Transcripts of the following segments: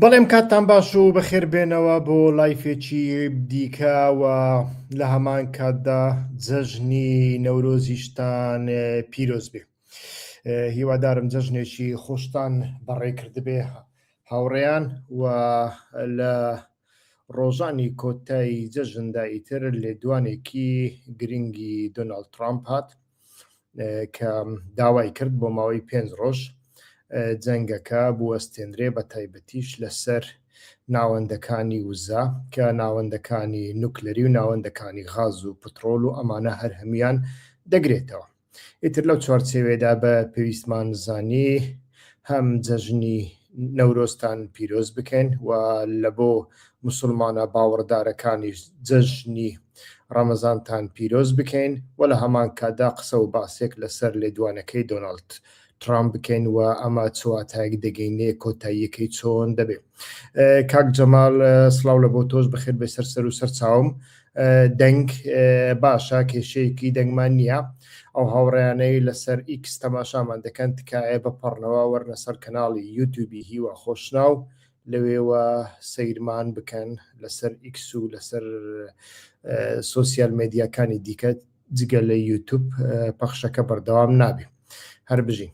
بەڵێم کاتتان باش و بەخێر بێنەوە بۆ لایفێکی دیکە و لە هەمان کاتدا جەژنی نەورۆزیشتان پیرۆز بێ هیوادارم جەژنێکی خۆشتان بەڕێکردبێ هاوڕێیان و لە ڕۆژانی کۆتایی جەژندا ئیتر لێدوانێکی گرنگی دۆناڵد ترامپ هات کە داوای کرد بۆ ماوەی پێنج ڕۆژ جەنگەکە بوەستێنرێ بە تایبەتیش لەسەر ناوەندەکانی وزە کە ناوەندەکانی نوکلەری و ناوەندەکانی غاز و پترۆل و ئەمانە هەر هەموان دەگرێتەوە ئیتر لەو چوارچێوێدا بە پێویستمان زانی هەم جەژنی نەورۆستان پیرۆز بکەین و لە بۆ موسڵمانە باوەڕدارەکانیش جەژنی ڕەمەزانتان پیرۆز بکەین و لە هەمان کاتدا قسە و باسێک لەسەر لێدوانەکەی دۆناڵد ترامپ بکەین و ئەمە چ واتایەک دەگەینێ کۆتاییەکەی چۆن دەبێ کاک جەمال سڵاو لە بۆ تۆش بەخێر بێ سەر سەر و سەر چاوم دەنگ باشە کێشەیەکی دەنگمان نییە ئەو هاوڕیانەی لەسەر ئیکس تەماشامان دەکەن تکایە بەپەڕنەوە وەرنە سەر کەناڵی یوتوبی هیوا خۆشناو لەوێوە سەیرمان بکەن لەسەر ئیکس و لەسەر سۆسیال مێدیاکانی دیکە جگە لە یوتوب پەخشەکە بەردەوام نابێ هەر بژین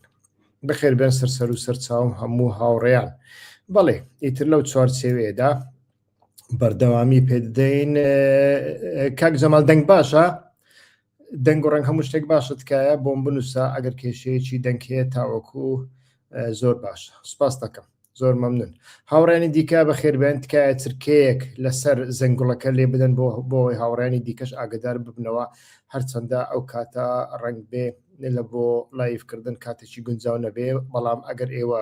بەخێر بێن سەر سەر و سەرچاوم هەموو هاوڕێیان بەڵێ ئیتر لەو چوارچێوێدا بەردەوامی پێدەین کاک جەمال دەنگ باشە دەنگ و ڕەنگ هەموو شتێک باشە تکایە بۆم بنووسە ئەگەر کێشەیەکی دەنگەیە تاوەکو زۆر باشە سپاس دەکەم زۆر مەمنون هاوڕانی دیکە بە خێربێن تکایە چرکەیەک لەسەر زەنگوڵەکە لێ بدەن بۆ بۆی هاوڕانی دیکەش ئاگدار ببنەوە هەرچەندە ئەو کاتە ڕنگ بێ لە بۆ لایفکردن کاتێکی گونجاو نەبێ بەڵام ئەگەر ئێوە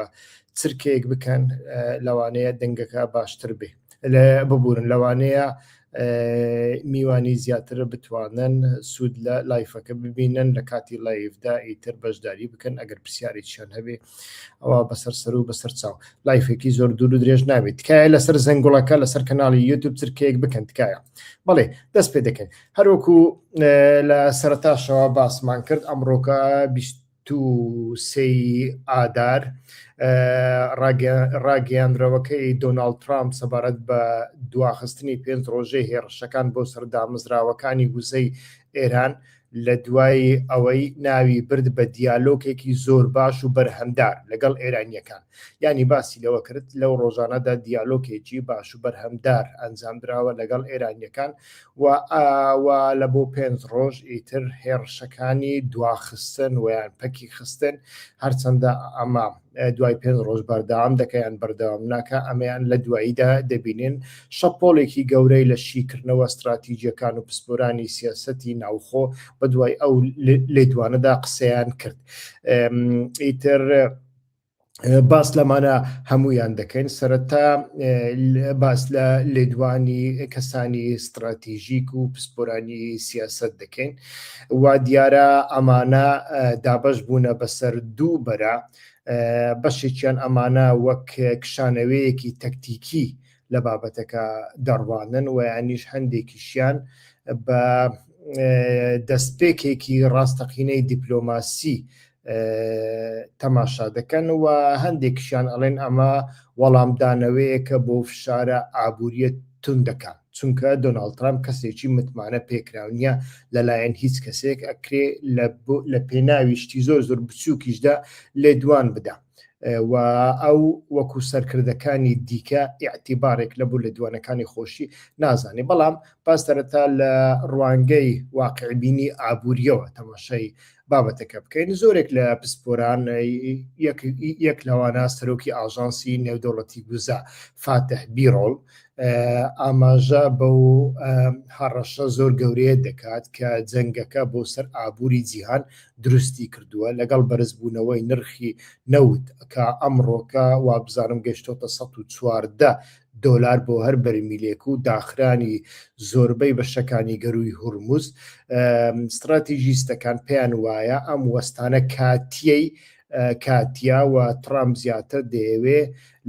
چرکەیەک بکەن لەوانەیە دەنگەکە باشتر بێ لە ببورن لەوانەیە میوانی زیاتر بتوانن سوود لە لایفەکە ببینن لە کاتی لایفدا ئیتر بەشداری بکەن ئەگەر پرسیارێکیان هەبێ ئەوە بەسەر سەر و بەسەر چاو لایفێکی زۆر دوور و درێژ نابێت تکایە لەسەر زەنگوڵەکە لەسەر کەناڵی یوتوب چرکەیەک بکەن تکایە بەڵێ دەست پێ دەکەن هەروەکو لە سەرتاشەوە باسمان کرد ئەمڕۆکە بیست دوو سێی ئادار، ڕاگەیاندراوەکەی دۆناڵد ترامپ سەبارەت بە دواخستنی پێنج ڕۆژەی هێڕشەکان بۆ سەر دامەزراوەکانی وزەی ئێران لە دوای ئەوەی ناوی برد بە دیالۆکێکی زۆر باش و بەرهەمدار لەگەڵ ئێرانییەکان یانی باسی لەوە کرد لەو ڕۆژانەدا دیالۆکێکی باش و بەرهەمدار ئەنجامدراوە لەگەڵ ئێرانییەکان و و لە بۆ پێنج ڕۆژ ئیتر هێڕشەکانی دواخستن ویان پەکی خستن هەرچەندە ئەمە دوای پێنج ڕۆژ بەردەوام دەکەیان بەردەوام ناکە ئەمەیان لە دواییدا دەبینین شەپۆلێکی گەورەی لە شیکردنەوە استراتیجیەکان و پسپۆرانی سیاستی ناوخۆ بە دوای ئەو لێدوانەدا قسەیان کرد ئیتر باس لەمانە هەموویان دەکەین سەرەتا باس لە لێدوانی کەسانی ستراتیژیک و پسپۆرانی سیاست دەکەین وا دیارە ئەمانە دابش بوونە بەسەر دوو بەرە بەشێکیان ئەمانە وەک کشانەوەیەکی تەکتیکی لە بابەتەکە دەڕوانن و ینیش هەندێکیشیان بە دەستپێکێکی ڕاستەقینەی دیپلۆماسی تەماشا دەکەن و هەندێکشیان ئەڵێن ئەمە وەڵامدانەوەیەکە بۆ فشارە ئابووریە توندەکان چونکە دۆناڵد ترامپ کەسێکی متمانە پێکراونیە لەلایەن هیچ کەسێک ئەکرێ لە پێناوی شتی زۆر زۆر بچووکیشدا لێدوان بدا و ئەو وەکو سەرکردەکانی دیکە ئاعتیبارێک لە بوو لە دوانەکانی خۆشی نازانێ بەڵام پاستەرەتا لە ڕوانگەی واقعبینی ئابووریەوە تەماشای بابەتەکە بکەین زۆرێک لە پسپۆران یەک لەوانە سەرۆکی ئاژانسی نێودەوڵەتی گوزا فاتح بیرۆڵ ئاماژە بە و هەڕەشە زۆر گەورەیە دەکات کە جەنگەکە بۆ سەر ئابووری جیهان دروستی کردووە لەگەڵ بەرزبوونەوەی نرخی نەوت کە ئەمڕۆکە وابزانم گەشتۆتە 1940 دۆلار بۆ هەر بەرمیلێک و داخرانی زۆربەی بەشەکانی گەرووی هورمز، ستراتیژیستەکان پێیان وایە ئەم وەستانە کاتییەی کاتییە و ترامپ زیاتر دەیەوێ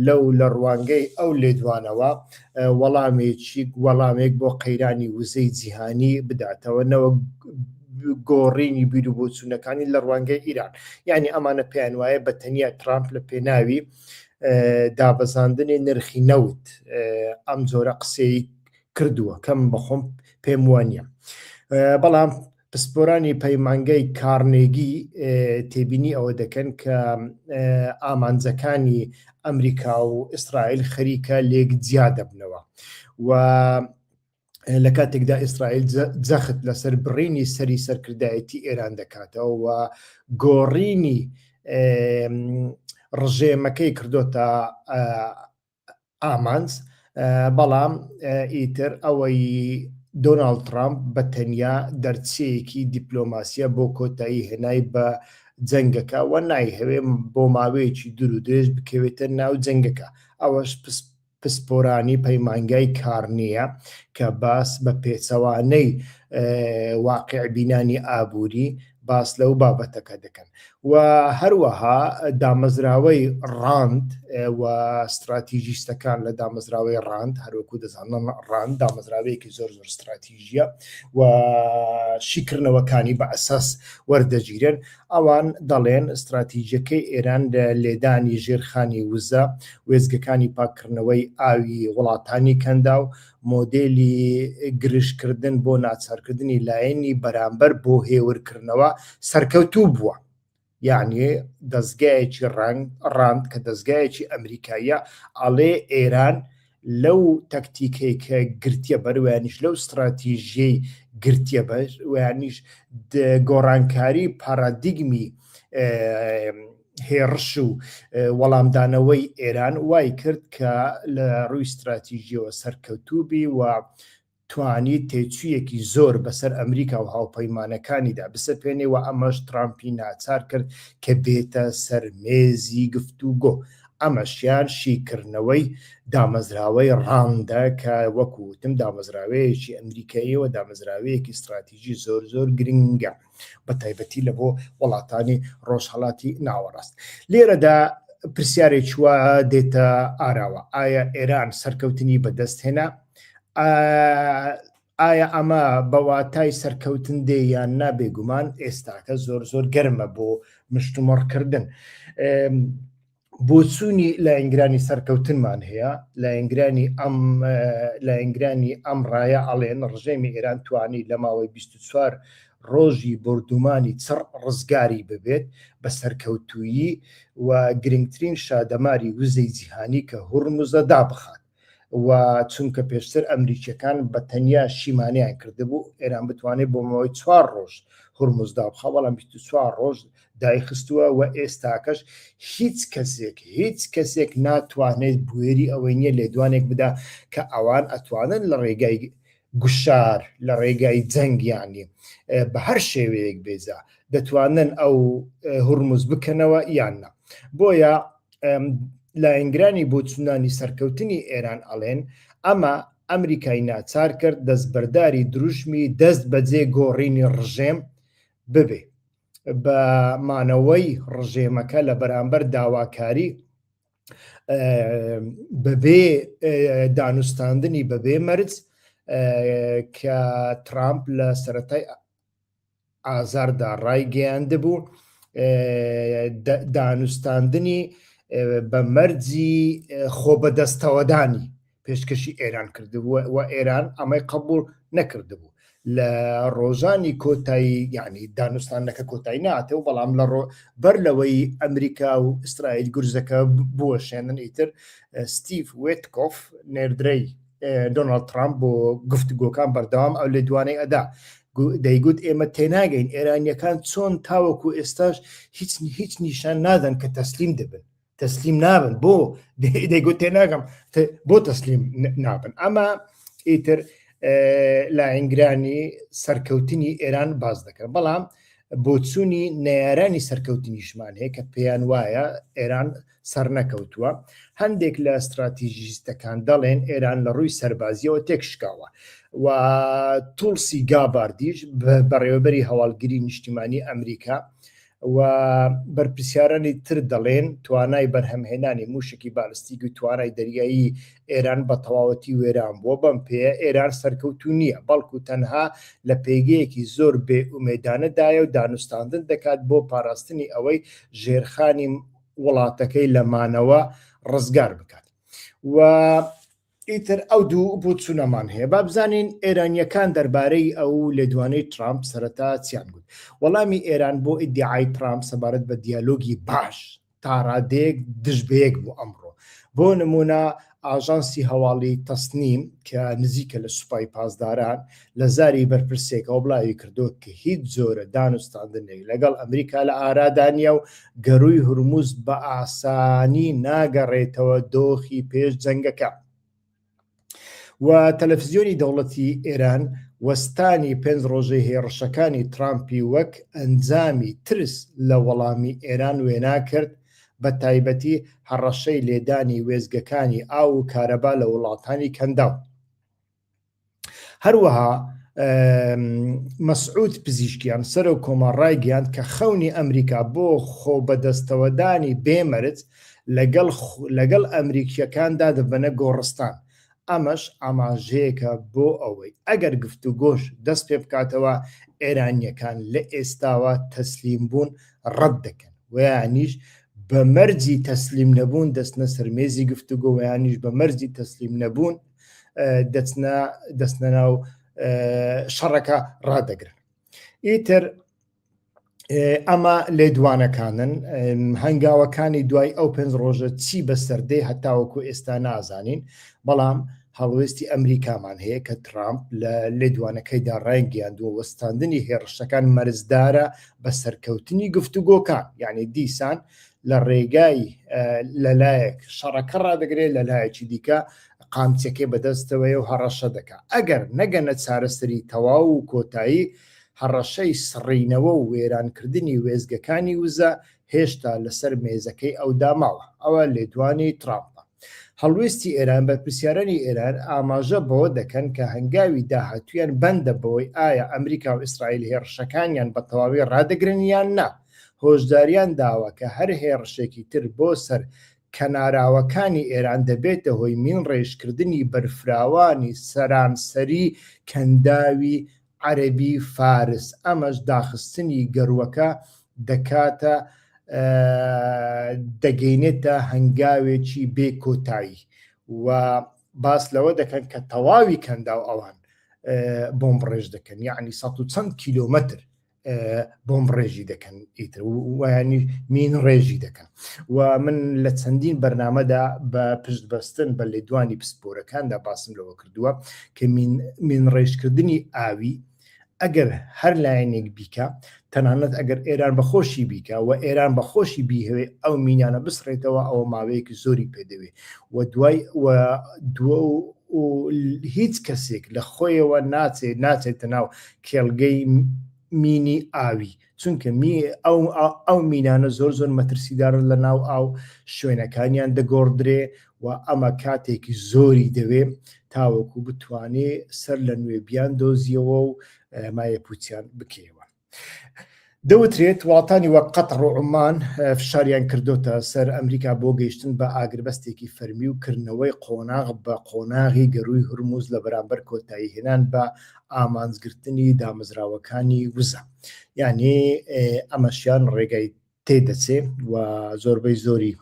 لەو لە ڕوانگەی ئەو لێدوانەوە وەڵامێکی وەڵامێک بۆ قەیرانی وزەی جیهانی بداتەوە نەوەک گۆڕینی بیرو بۆچوونەکانی لە ڕوانگەی ئیران یعنی ئەمانە پێیان وایە بە تەنیا ترامپ لە پێناوی دابەزاندنی نرخی نەوت ئەم جۆرە قسەی کردووە کەم بەخۆم پێم وە نیە بەڵام پسپۆرانی پەیمانگای کارنێگی تێبینی ئەوە دەکەن کە ئامانجەکانی ئەمریکا و ئیسرائیل خەریکە لێک جیا دەبنەوە و لە کاتێکدا ئیسرائیل جەخت لەسەر بڕینی سەری سەرکردایەتی ئێران دەکاتەوە و گۆڕینی ڕژێمەکەی کردوتە ئامانج بەڵام ئیتر ئەوەی دۆناال ترامپ بە تەنیا دەرچەیەکی دیپلۆماسیە بۆ کۆتایی هێنای بە جەنگەکە وە نایهەوێ بۆ ماوەیەکی دوور و درێژ بکەوێتە ناو جەنگەکە ئەوەش پسپۆرانی پەیمانگای کارنیە کە باس بە پێچەوانەی واقیعبینانی ئابووری باس لەو بابەتەکە دەکەن و هەروەها دامەزراوەی ڕاند و ستراتیژیستەکان لە دامەزراوەی ڕاند هەروەکو دەزانن ڕاند دامەزراوەیەکی زۆر زۆر ستراتیژیە و شیکردنەوەکانی بە ئەساس وەردەگیرن ئەوان دەڵێن ستراتیجیەکەی ئێران لە لێدانی ژێرخانی وزە، وێستگەکانی پاککردنەوەی ئاوی وڵاتانی کەنداو، مۆدێلی گرژکردن بۆ ناچارکردنی لایەنی بەرامبەر بۆ هێورکردنەوە، سەرکەوتوو بووە. یەعنی دەزگایەکی ڕاند کە دەزگایەکی ئەمریکاییە ئەڵێ ئێران لەو تەکتیکەی کە گرتیە بەر و یانیش لەو ستراتیژیەی گرتیە بەر و یانیش گۆڕانکاری پارادیگمی هێڕش و وەڵامدانەوەی ئێران وای کرد کە لە ڕووی ستراتیژیەوە سەرکەوتوبی و توانیت تێچوویەکی زۆر بەسەر ئەمریکا و هاوپەیمانەکانیدا بسەپێنێ و ئەمەش تڕامپی ناچار کرد کە بێتە سەر مێزی گفتوگۆ. ئەمەشیان شیکردنەوەی دامەزراوەی ڕاندە کە وەکو وتم دامەزراوەیەکی ئەمریکاییە و دامەزراوەیەکی ستڕاتیجی زۆر زۆر گرنگە. بە تایبەتی لە بۆ وڵاتانی ڕۆژهڵاتی ناوەڕاست لێرەدا پرسیارێک چوە دێتە ئاراوە ئایا ئێران سەرکەوتنی بەدەست هێنا ئایا ئەمە بەواتای سەرکەوتن دێ یان نابێگومان ئێستاکە زۆر زۆر گەرمە بۆ مشتومڕکردن بۆچوونی لایەنگرانی سەرکەوتنمان هەیە لایەنگرانی ئەم لایەنگرانی ئەم ڕایە ئەڵێن ڕژێمی ئێران توانی لە ماوەی 24 ڕۆژی بردومانی چڕ ڕزگاری ببێت بە سەرکەوتویی و گرنگترین شادەماری وزەی جیهانی کە هوڕمزە دابخات و چونکە پێشتر ئەمریکیەکان بە تەنیا شیمانیان کردبوو ئێران بتوانێت بۆ مەوەی چوار ڕۆژ هورمزدا بخە بەڵام چوار ڕۆژ دایخستووە و ئێستاکەش هیچ کەسێک هیچ کەسێک ناتوانێت بوێری ئەوەی نیە لێدوانێک بدا کە ئەوان ئەتوانن لە ڕێگای گوشار لە ڕێگای جەنگ یانی بە هەر شێوەیەک بێ جا دەتوانن ئەو هورمز بکەنەوە یان نا بۆیە لایەنگرانی بۆچوونانی سەرکەوتنی ئێران ئەڵێن ئەمە ئەمریکای ناچار کرد دەستبەرداری دروشمی دەست بەجێ گۆڕینی ڕژێم ببێ بە مانەوەی ڕژێمەکە لە بەرامبەر داواکاری بەبێ دانوستاندنی بەبێ مەرج کە ترامپ لە سەتای ئازاردا ڕایگەیاند بوو دانوستاندنی بە مەرجی خۆ بەدەستەوەدانی پێشکەشی ئێران کردبوو و ئێران ئەمەی قبول نەکردبوو لە ڕۆژانی کۆتایی یعنی دانوستانەکە کۆتایی ناتێ و بەڵام لە ڕۆ بەر لەوەی ئەمریکا و ئیسرائیل گورزەکە بوەشێنن ئیتر ستیف وێتکۆف نێردرەی دۆناڵد ترامپ بۆ گفتگۆکان بەردەوام ئەو لە دوانەی ئەدا دەیگوت ئێمە تێناگەین ئێرانیەکان چۆن تاوەکو ئێستاش هیچ هیچ نیشان نادەن کە تەسلیم دەبن تەسلیم نابن بۆ دەیگوت تێ ناگەم بۆ تەسلیم نابن ئەمە ئیتر لاینگرانی سەرکەوتنی ئێران باز دەکەن بەڵام بۆچوونی نارانی سەرکەوتنیشمان هەیە کە پێیان وایە ئێران سەر نەکەوتووە هەندێک لە استراتیژیستەکان دەڵێن ئێران لە ڕووی سەربازیەوە تێکشکاوە و تولسی گاباردیش بەڕێوەبەری هەواڵگری نیشتیمانی ئەمریکا و بەرپرسیارانی تر دەڵێن توانای بەرهەمهێنانی موشکی بالستیک و توانای دەریایی ئێران بە تەواوەتی وێران بووە بەم پێەیە ئێران سەرکەوتو نییە بەڵکو تەنها لە پێگەیەکی زۆر بێ ئومێدانەدایە و دانوستاندن دەکات بۆ پاراستنی ئەوەی ژێرخانی وڵاتەکەی لە مانەوە ڕزگار بکات و ئیتر ئەو دوو بوتسونەمان هەیە با بزانین ئێرانیەکان دەربارەی ئەو لێدوانەی ترامپ سەرەتا چیان گوت وەڵامی ئێران بۆ ئیدعای ترامپ سەبارەت بە دیالۆگی باش تاڕادێک دژبەیەک بوو ئەمڕۆ بۆ نمونە ئاژانسی هەواڵی تەسنیم کە نزیکە لە سوپای پاسداران لە زاری بەرپرسێکەوە بڵاوی کردووە کە هیچ جۆرە دانوستاندنێک لەگەڵ ئەمریکا لە ئارادا نییە و گەرووی هورموز بە ئاسانی ناگەڕێتەوە دۆخی پێش جەنگەکە. و تەلەفزیۆنی دەوڵەتی ئێران وەستانی پێنج ڕۆژەی هێڕشەکانی ترامپی وەک ئەنجامی ترس لە وەڵامی ئێران وێنا کرد بە تایبەتی هەڕەشەی لێدانی وێزگەکانی ئاو و کارەبا لە وڵاتانی کەنداو. هەروەها مەسعود پزیشکیان سەرۆک کۆمار ڕایگەیاند کە خەونی ئەمریکا بۆ خۆ بەدەستەوەدانی بێمەرج لەگەڵ لەگەڵ ئەمریکیەکاندا دەبەنە گۆڕستان ئەمەش ئاماژەیەکە بۆ ئەوەی ئەگەر گفت و گۆش دەست پێ بکاتەوە ئێرانیەکان لە ئێستاوە تەسلیم بوون ڕەت دەکەن ویانیش بە مەرجی تەسلیم نەبوون دەستنە سەرمێزی گفتوگۆوەیانیش بە مەرجی تەسلیم نەبوون دەچنە دەستنە ناو شەڕەکە ڕدەگرن ئیتر ئەمە لێ دوانەکانن هەنگاوەکانی دوای ئەو پێنج ڕۆژە چی بەسەردەی هەتاوەکو ئێستا نازانین بەڵام هەڵوێستی ئەمریکامان هەیە کە ترامپ لە لێدوانەکەیدا ڕایگەیان دووە وەستاندنی هێڕشەکان مەرزدارە بە سەرکەوتنی گفتوگۆکان یعنی دیسان لە ڕێگای لەلایەک شەڕەکە ڕدەگرێت لە لایەکی دیکە قامچەکەی بەدەستەوەیە و هەڕەشە دەکا ئەگەر نەگەنە چارەسەری تەواو و کۆتایی، هەڕەشەی سڕینەوە و وێرانکردنی وێستگەکانی وزە هێشتا لەسەر مێزەکەی ئەودا ماوە. ئەوە لێدوانی ترامپە. هەڵوێستی ئێران، بەرپرسیارانی ئێران ئاماژە بەوە دەکەن کە هەنگاوی داهاتوویان بەندە بەوەی ئایا ئەمریکا و ئیسرائیل هێڕشەکانیان بە تەواوی ڕادەگرن یان نا، هۆشداریان داوە کە هەر هێڕشێکی تر بۆ سەر کەناراوەکانی ئێران دەبێتە هۆی مینڕێژکردنی بەرفراوانی سەرانسەری کەنداوی عەرەبی فارس، ئەمەش داخستنی گەروەکە دەکاتە دەگەینێتە هەنگاوێکی بێ کۆتایی و باس لەوە دەکەن کە تەواوی کەنداو ئەوان بۆمبڕێژ دەکەن یعنی سە و چەند کیلومتر بۆم ڕێژی دەکەن ئیتر ویانی مین ڕێژی دەکەن و من لە چەندین بەرنمەدا بە پشت بەستن بە لێدوانی پسپۆرەکاندا باسم لەوە کردووە کە مین ڕێژکردنی ئاوی ئەگەر هەر لایەنێک بیکە تەنانەت ئەگەر ئێران بەخۆشی بیکە و ئێران بەخۆشی بیهوێ ئەو مینانە بسڕێتەوە ئەوە ماوەیەکی زۆری پێدەوێ و دوای و دووە و هیچ کەسێک لە خۆیەوە ناچێت ناچێتە ناو کێڵگەی مینی ئاوی چونکە می ئەو ئەو مینانە زۆر زۆر مەترسیدارن لە ناو ئاو شوێنەکانیان دەگۆڕدرێ و ئەمە کاتێکی زۆری دەوێ تاوەکو بتوانێ سەر لە نوێ بیان دۆزیەوە و مایە پوچیان بکەیەوە. دەوترێت وڵاتانی وەک قەتەڕ و عومان فشاریان کردۆتە سەر ئەمریکا بۆ گەیشتن بە ئاگربەستێکی فەرمی و کردنەوەی قۆناغ بە قۆناغی گەرووی هورموز لە بەرامبەر کۆتایی هێنان بە ئامانجگرتنی دامەزراوەکانی وزە یانێ ئەمەشیان ڕێگای تێ دەچێ و زۆربەی زۆری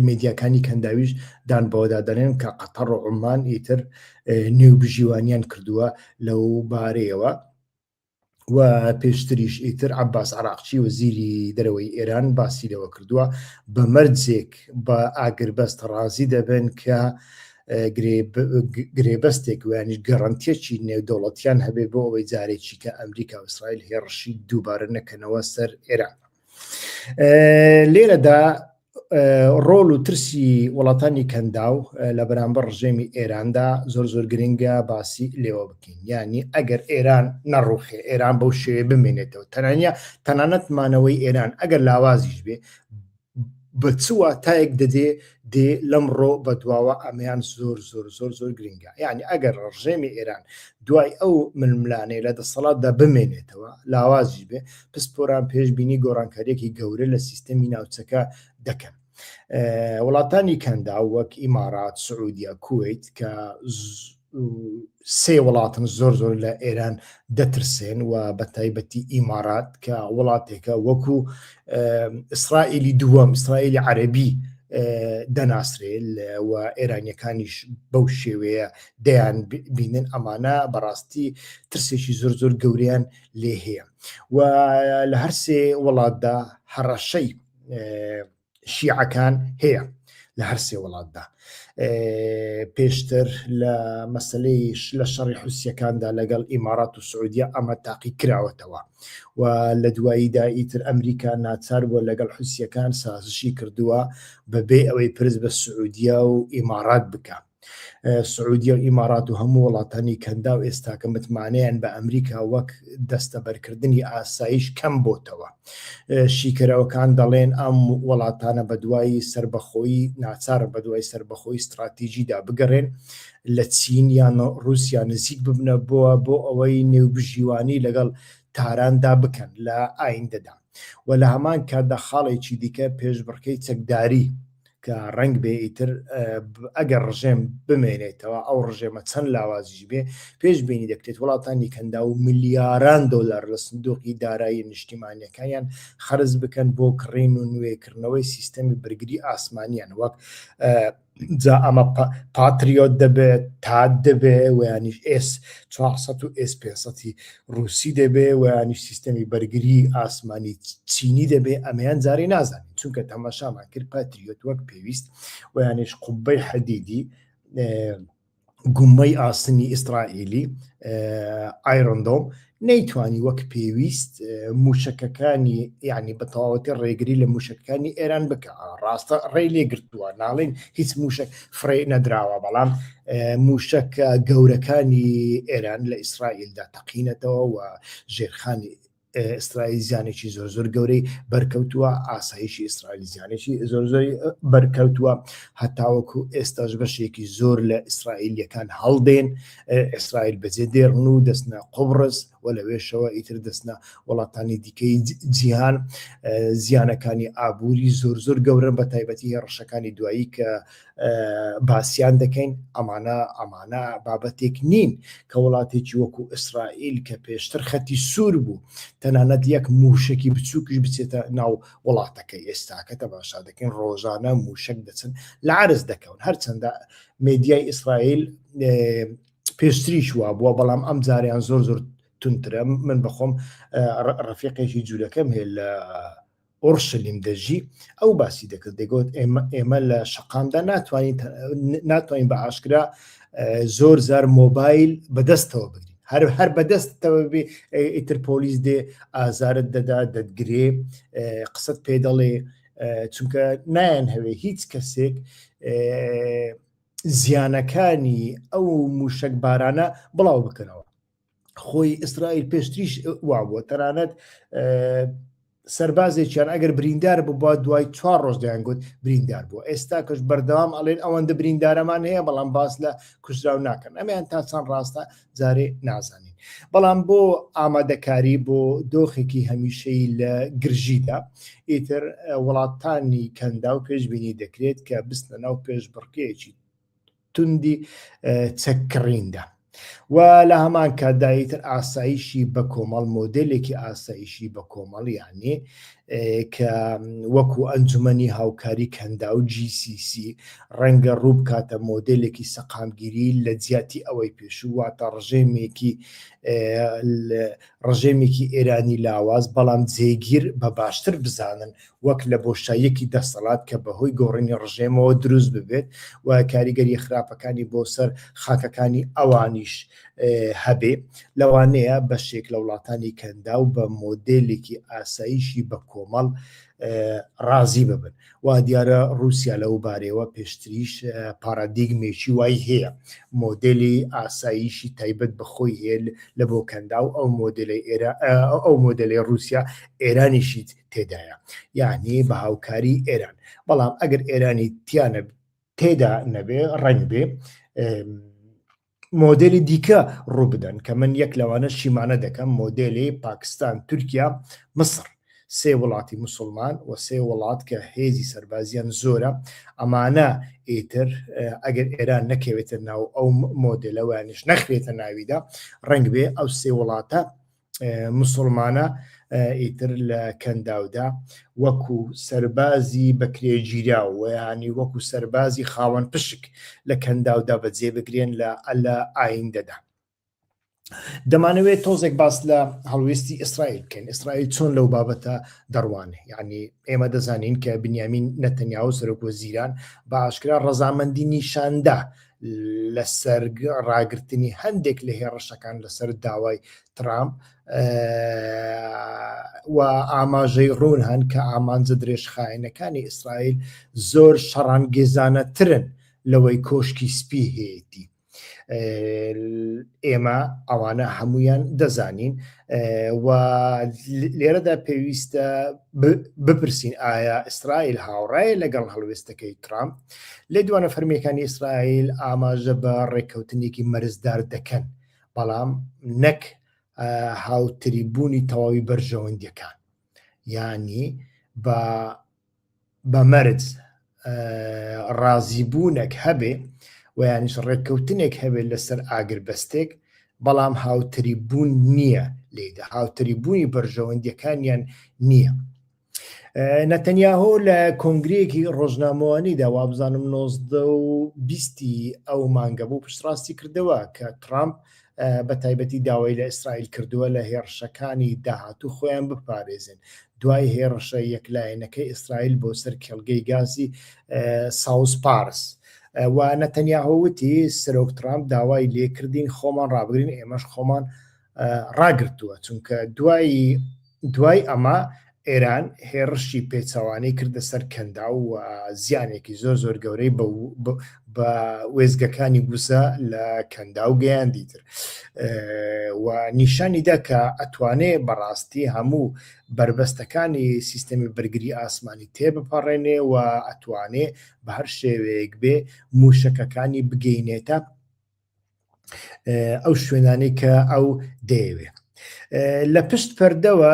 میدیاکانی کەنداویش دان بەوەدا دەنێن کە قەتەڕ و عمان ئیتر نێو بژیوانیان کردووە لەو بارەیەوە و پێشتریش ئیتر عباس عراقچی و زیری دەرەوەی ئێران باسی لەوە کردووە بە مەرجێک بە ئاگربەست ڕازی دەبن کە گرێبەستێک ویانش گەڕنتێکی نێودەوڵەتیان هەبێ بۆ ئەوەی جارێکی کە ئەمریکا وسرائیل هێڕشی دووبارە نەکەنەوە سەر ئێران لێرەدا ڕۆل و ترسی وڵاتانی کەنداو لە بەرامبەر ڕژێمی ئێراندا زۆر زۆر گرنگە باسی لێوە بکەین ینی ئەگەر ئێران نەڕوخێ ئێران بەو شێوێ بمێنێتەوە تەنانە تەنانەت مانەوەی ئێران ئەگەر لاوازیش بێ بە چوە تایەک دەدێ دێ لەم ڕۆ بە دواوە ئەمیان زۆر زۆر زۆر زۆر گرنگە یعنی ئەگەر ڕژێمی ئێران دوای ئەو ململانەیە لە دەسەڵاتدا بمێنێتەوە لاوازی بێ پسپۆران پێشبینی گۆڕانکاریەکی گەورە لە سیستەمی ناوچەکە دەکەن وڵاتانی کەندا وەک ئیمارات سعودیا کویت کە سێ وڵاتن زۆر زۆر لە ئێران دەترسێن و بە تایبەتی ئیمارات کە وڵاتێکە وەکو ئیسرائیلی دووەم ئیسرائیلی عەربی دەناسرێ و ئێرانیەکانیش بەو شێوەیە دەیان بینن ئەمانە بەڕاستی ترسێکی زۆر زۆر گەوریان لێ هەیە و لە هەرسێ وڵاتدا هەڕەشەی شیعەکان هەیە لە هەرسێ وڵاتدا پێشتر لە مەسلەیش لە شەڕی حوسەکاندا لەگەڵ ئیمارات و سعودیا ئەمە تاقی کراوەتەوە و لە دواییدا ئیتر ئەمریکا ناچار بووە لەگەڵ حوسەکان سازشی کردووە بەبێ ئەوەی پرس بە سعودیا و ئیمارات بکە سعودیە و ئیمارات و هەموو وڵاتانی کەندا و ئێستاکە متمانەیان بە ئەمریکا وەک دەستەبەرکردنی ئاسایش کەم بۆتەوە شیکەرەوەکان دەڵێن ئەم وڵاتانە بە دوای سربەخۆی ناچارە بە دوای سربەخۆی استراتیژیدا بگەڕێن لە چین یان رووسیا نزیک ببنە بووە بۆ ئەوەی نێوبژیوانی لەگەڵ تاراندا بکەن لە ئایندەدا و لە هەمان کاتدا خاڵێکی دیکە پێشبڕکەی چەکداری کە ڕەنگ بێ ئیتر ئەگەر ڕژێم بمێنێتەوە ئەو ڕژێمە چەند لاوازیش بێ پێش بینی دەکرێت وڵاتانی کەندا و ملیاران دۆلار لە سندۆقی دارایی نیشتیمانیەکانیان خەرز بکەن بۆ کڕین و نوێکردنەوەی سیستەمی برگری ئاسمانیان وەک جا ئەمە پاتریۆت دەبێت تا دەبێ ویانیش ئێس 400 و ئێس 500 ڕووسی دەبێ و یانیش سیستەمی بەرگری ئاسمانی چینی دەبێ ئەمەیان جارێ نازانین چونکە تەماشامان کرد پاتریۆت وەک پێویست و یانیش قوبەی حەدیدی گومەی ئاسنی ئیسرائیلی ئایرندۆم نەیتوانی وەک پێویست موشەکەکانی یعنی بە تەواوەتی ڕێگری لە موشەکانی ئێران بکە ڕاستە ڕێ لێگرتووە ناڵێن هیچ موشک فڕێ نەدراوە بەڵام موشەکە گەورەکانی ئێران لە ئیسرائیلدا تەقینەتەوە و ژێرخانی ئیسرائیل زیانێکی زۆر زۆر گەورەی بەرکەوتووە ئاسایشی ئیسرائیل زیانێکی زۆر زۆری بەرکەوتووە هەتاوەکو ئێستاش بەشێکی زۆر لە ئیسرائیلیەکان هەڵدێن ئیسرائیل بەجێ دێڕن و دەستنە قوبڕست و لەوێشەوە ئیتر دەستنە وڵاتانی دیکەی جیهان زیانەکانی ئابووری زۆر زۆر گەورن بە تایبەتی هێڕشەکانی دوایی کە باسییان دەکەین ئەمانە ئەمانە بابەتێک نین کە وڵاتێکی وەکو ئیسرائیل کە پێشتر خەتی سوور بوو تەنانەت یەک موشکی بچووکیش بچێتە ناو وڵاتەکە ئێستاکە تەماشا دەکەین ڕۆژانە موشک دەچن لە عرز دەکەون هەرچەندە مدیای ئیسرائیل پێشتریش وا بووە بەڵام ئەم جاریان زۆر زۆر تونترە من بەخۆم ڕفیقێکی جوولەکەم هەیە لە ئۆرشلیم دەژی ئەو باسی دەکرد دەگوت ئێمە لە شقامدا ناتوانین ناتوانین بە ئاشکرا زۆر زار مۆبایل بەدەستەوە بگرین هەر هەر بەدەستەوە بێ ئیتر پۆلیس دێ ئازارت دەدا دەتگرێ قسەت پێ دەڵێ چونکە نایەن هەوێ هیچ کەسێک زیانەکانی ئەو موشەک بارانە بڵاو بکەنەوە خۆی ئیسرائیل پێشتریش وابووە تەنانەت سربازێکیان ئەگەر بریندار ببووە دوای چوار ڕۆژ دەیان گوت بریندار بوو ئێستا کەش بەردەوام ئەڵێن ئەوەندە بریندارەمان هەیە بەڵام باس لە کوژراو ناکەن ئەمیان تا چەند ڕاستە جارێ نازانین بەڵام بۆ ئامادەکاری بۆ دۆخێکی هەمیشەی لە گرژیدا ئیتر وڵاتانی کەندا و پێشببینی دەکرێت کە بستە ناو پێش بڕکێکی توندی چەککڕیندا و لە هەمان کاتدایتر ئاسایشی بە کۆمەڵ مۆدلێکی ئاسایشی بە کۆمەڵیانێ کە وەکو ئەنجومەنی هاوکاری کەنداو GCC ڕەنگە ڕوو بکاتە مۆدێلێکی سەقامگیری لە جیاتی ئەوەی پێشوو واتە ڕژێمێکی ڕژێمێکی ئێرانی لاواز بەڵام جێگیر بە باشتر بزانن وەک لە بۆشاییەکی دەسەڵات کە بەهۆی گۆڕینی ڕژێمەوە دروست ببێت و کاریگەری خراپەکانی بۆ سەر خاکەکانی ئەوانیش هەبێ لەوانەیە بەشێک لە وڵاتانی کەندا و بە مۆدلێکی ئاساییشی بە کۆمەڵ ڕازی ببن وا دیارە رووسیا لەو بارەوە پێشتریش پارادیگمێکی وای هەیە مۆدلی ئاساییشی تایبەت بەخۆی هێل لە بۆ کەندا و ئەو مۆدلی ئێرا ئەو مۆدلی رووسیا ئێرانیشیت تێدایە یعنی بە هاوکاری ئێران بەڵام ئەگەر ئێرانی تیانە تێدا نەبێ ڕنگ بێ مۆدێلی دیکە ڕوو بدەن کە من یەک لەوانە شیمانە دەکەم مۆدێلی پاکستان تورکیا مصر سێ وڵاتی مسلمان و سێ وڵات کە هێزی سەربازیان زۆرە ئەمانە ئیتر ئەگەر ئێران نەکەوێتە ناو ئەو مۆدلەوەیانش نەخرێتە ناویدا ڕنگ بێ ئەو سێ وڵاتە مسوڵمانە ئیتر لە کەنداودا وەکو سەربازی بەکرێگیرا و ینی وەکو سەربازی خاوەن پشک لە کەنداودا بەجێ بگرێن لە ئەلە ئایندەدا دەمانەوێت تۆزێک باس لە هەڵوێستی ئیسرائیل بکەین ئیسرائیل چۆن لەو بابەتە دەڕوانێ یعنی ئێمە دەزانین کە بنیامین نەتەنیاو سەرۆک وەزیران بە ئاشکرا ڕەزامەندی نیشاندا لەسەر ڕاگرتنی هەندێک لە هێڕشەکان لەسەر داوای ترام و ئاماژەی ڕوون هەن کە ئامانجە درێژخایەنەکانی ئیسرائیل زۆر شەڕانگێزانەترن لەوەی کۆشکی سپی هەیەی ئێمە ئەوانە هەمویان دەزانین و لێرەدا پێویستە بپرسین ئایا ئیسرائیل هاوڕایە لەگەڵ هەڵوێستەکەی ترامپ لێدوانە فەرمیەکانی ئیسرائیل ئاماژە بە ڕێککەوتنێکی مەرزدار دەکەن بەڵام نەک هاوتری بوونی تەواوی بەرژەوەندیەکان ینی بە بە مەرج ڕازیبوونێک هەبێ و یانیش ڕێککەوتنێک هەبێت لەسەر ئاگربەستێک بەڵام هاوتری بوون نییە لێدا هاوتری بوونی بەرژەوەندیەکانیان نییە نەتەنیاهۆ لە کۆنگرەیەکی ڕۆژنامەوانیدا وابزانم 1920 ئەو مانگە بوو پشتڕاستی کردەوە کە ترامپ بە تایبەتی داوای لە ئیسرائیل کردووە لە هێڕشەکانی داهاتوو خۆیان بپارێزن دوای هێڕشە یەکلایەنەکەی ئیسرائیل بۆ سەر کێڵگەی گازی ساوس پارس. و نەتەنیاهۆوتی سەرۆک ترامپ داوای لێکردین خۆمان ڕابگرین ئێمەش خۆمان ڕاگرتووە چونکە دوایی دوای ئەمە ئێران هێڕشی پێچوانەی کردە سەر کەندا و زیانێکی زۆر زۆر گەورەی بە وێزگەکانی گوزە لە کەندا و گەیاندی تر و نیشانی دەکە ئەتوانێ بەڕاستی هەموو بربەستەکانی سیستەمی بەرگری ئاسمانی تێبپەڕێنێ و ئەتوانێ بە هەر شێوەیەک بێ موشەکەکانی بگەینێتە ئەو شوێنانەی کە ئەو دەیەوێت لە پشت پەردەوە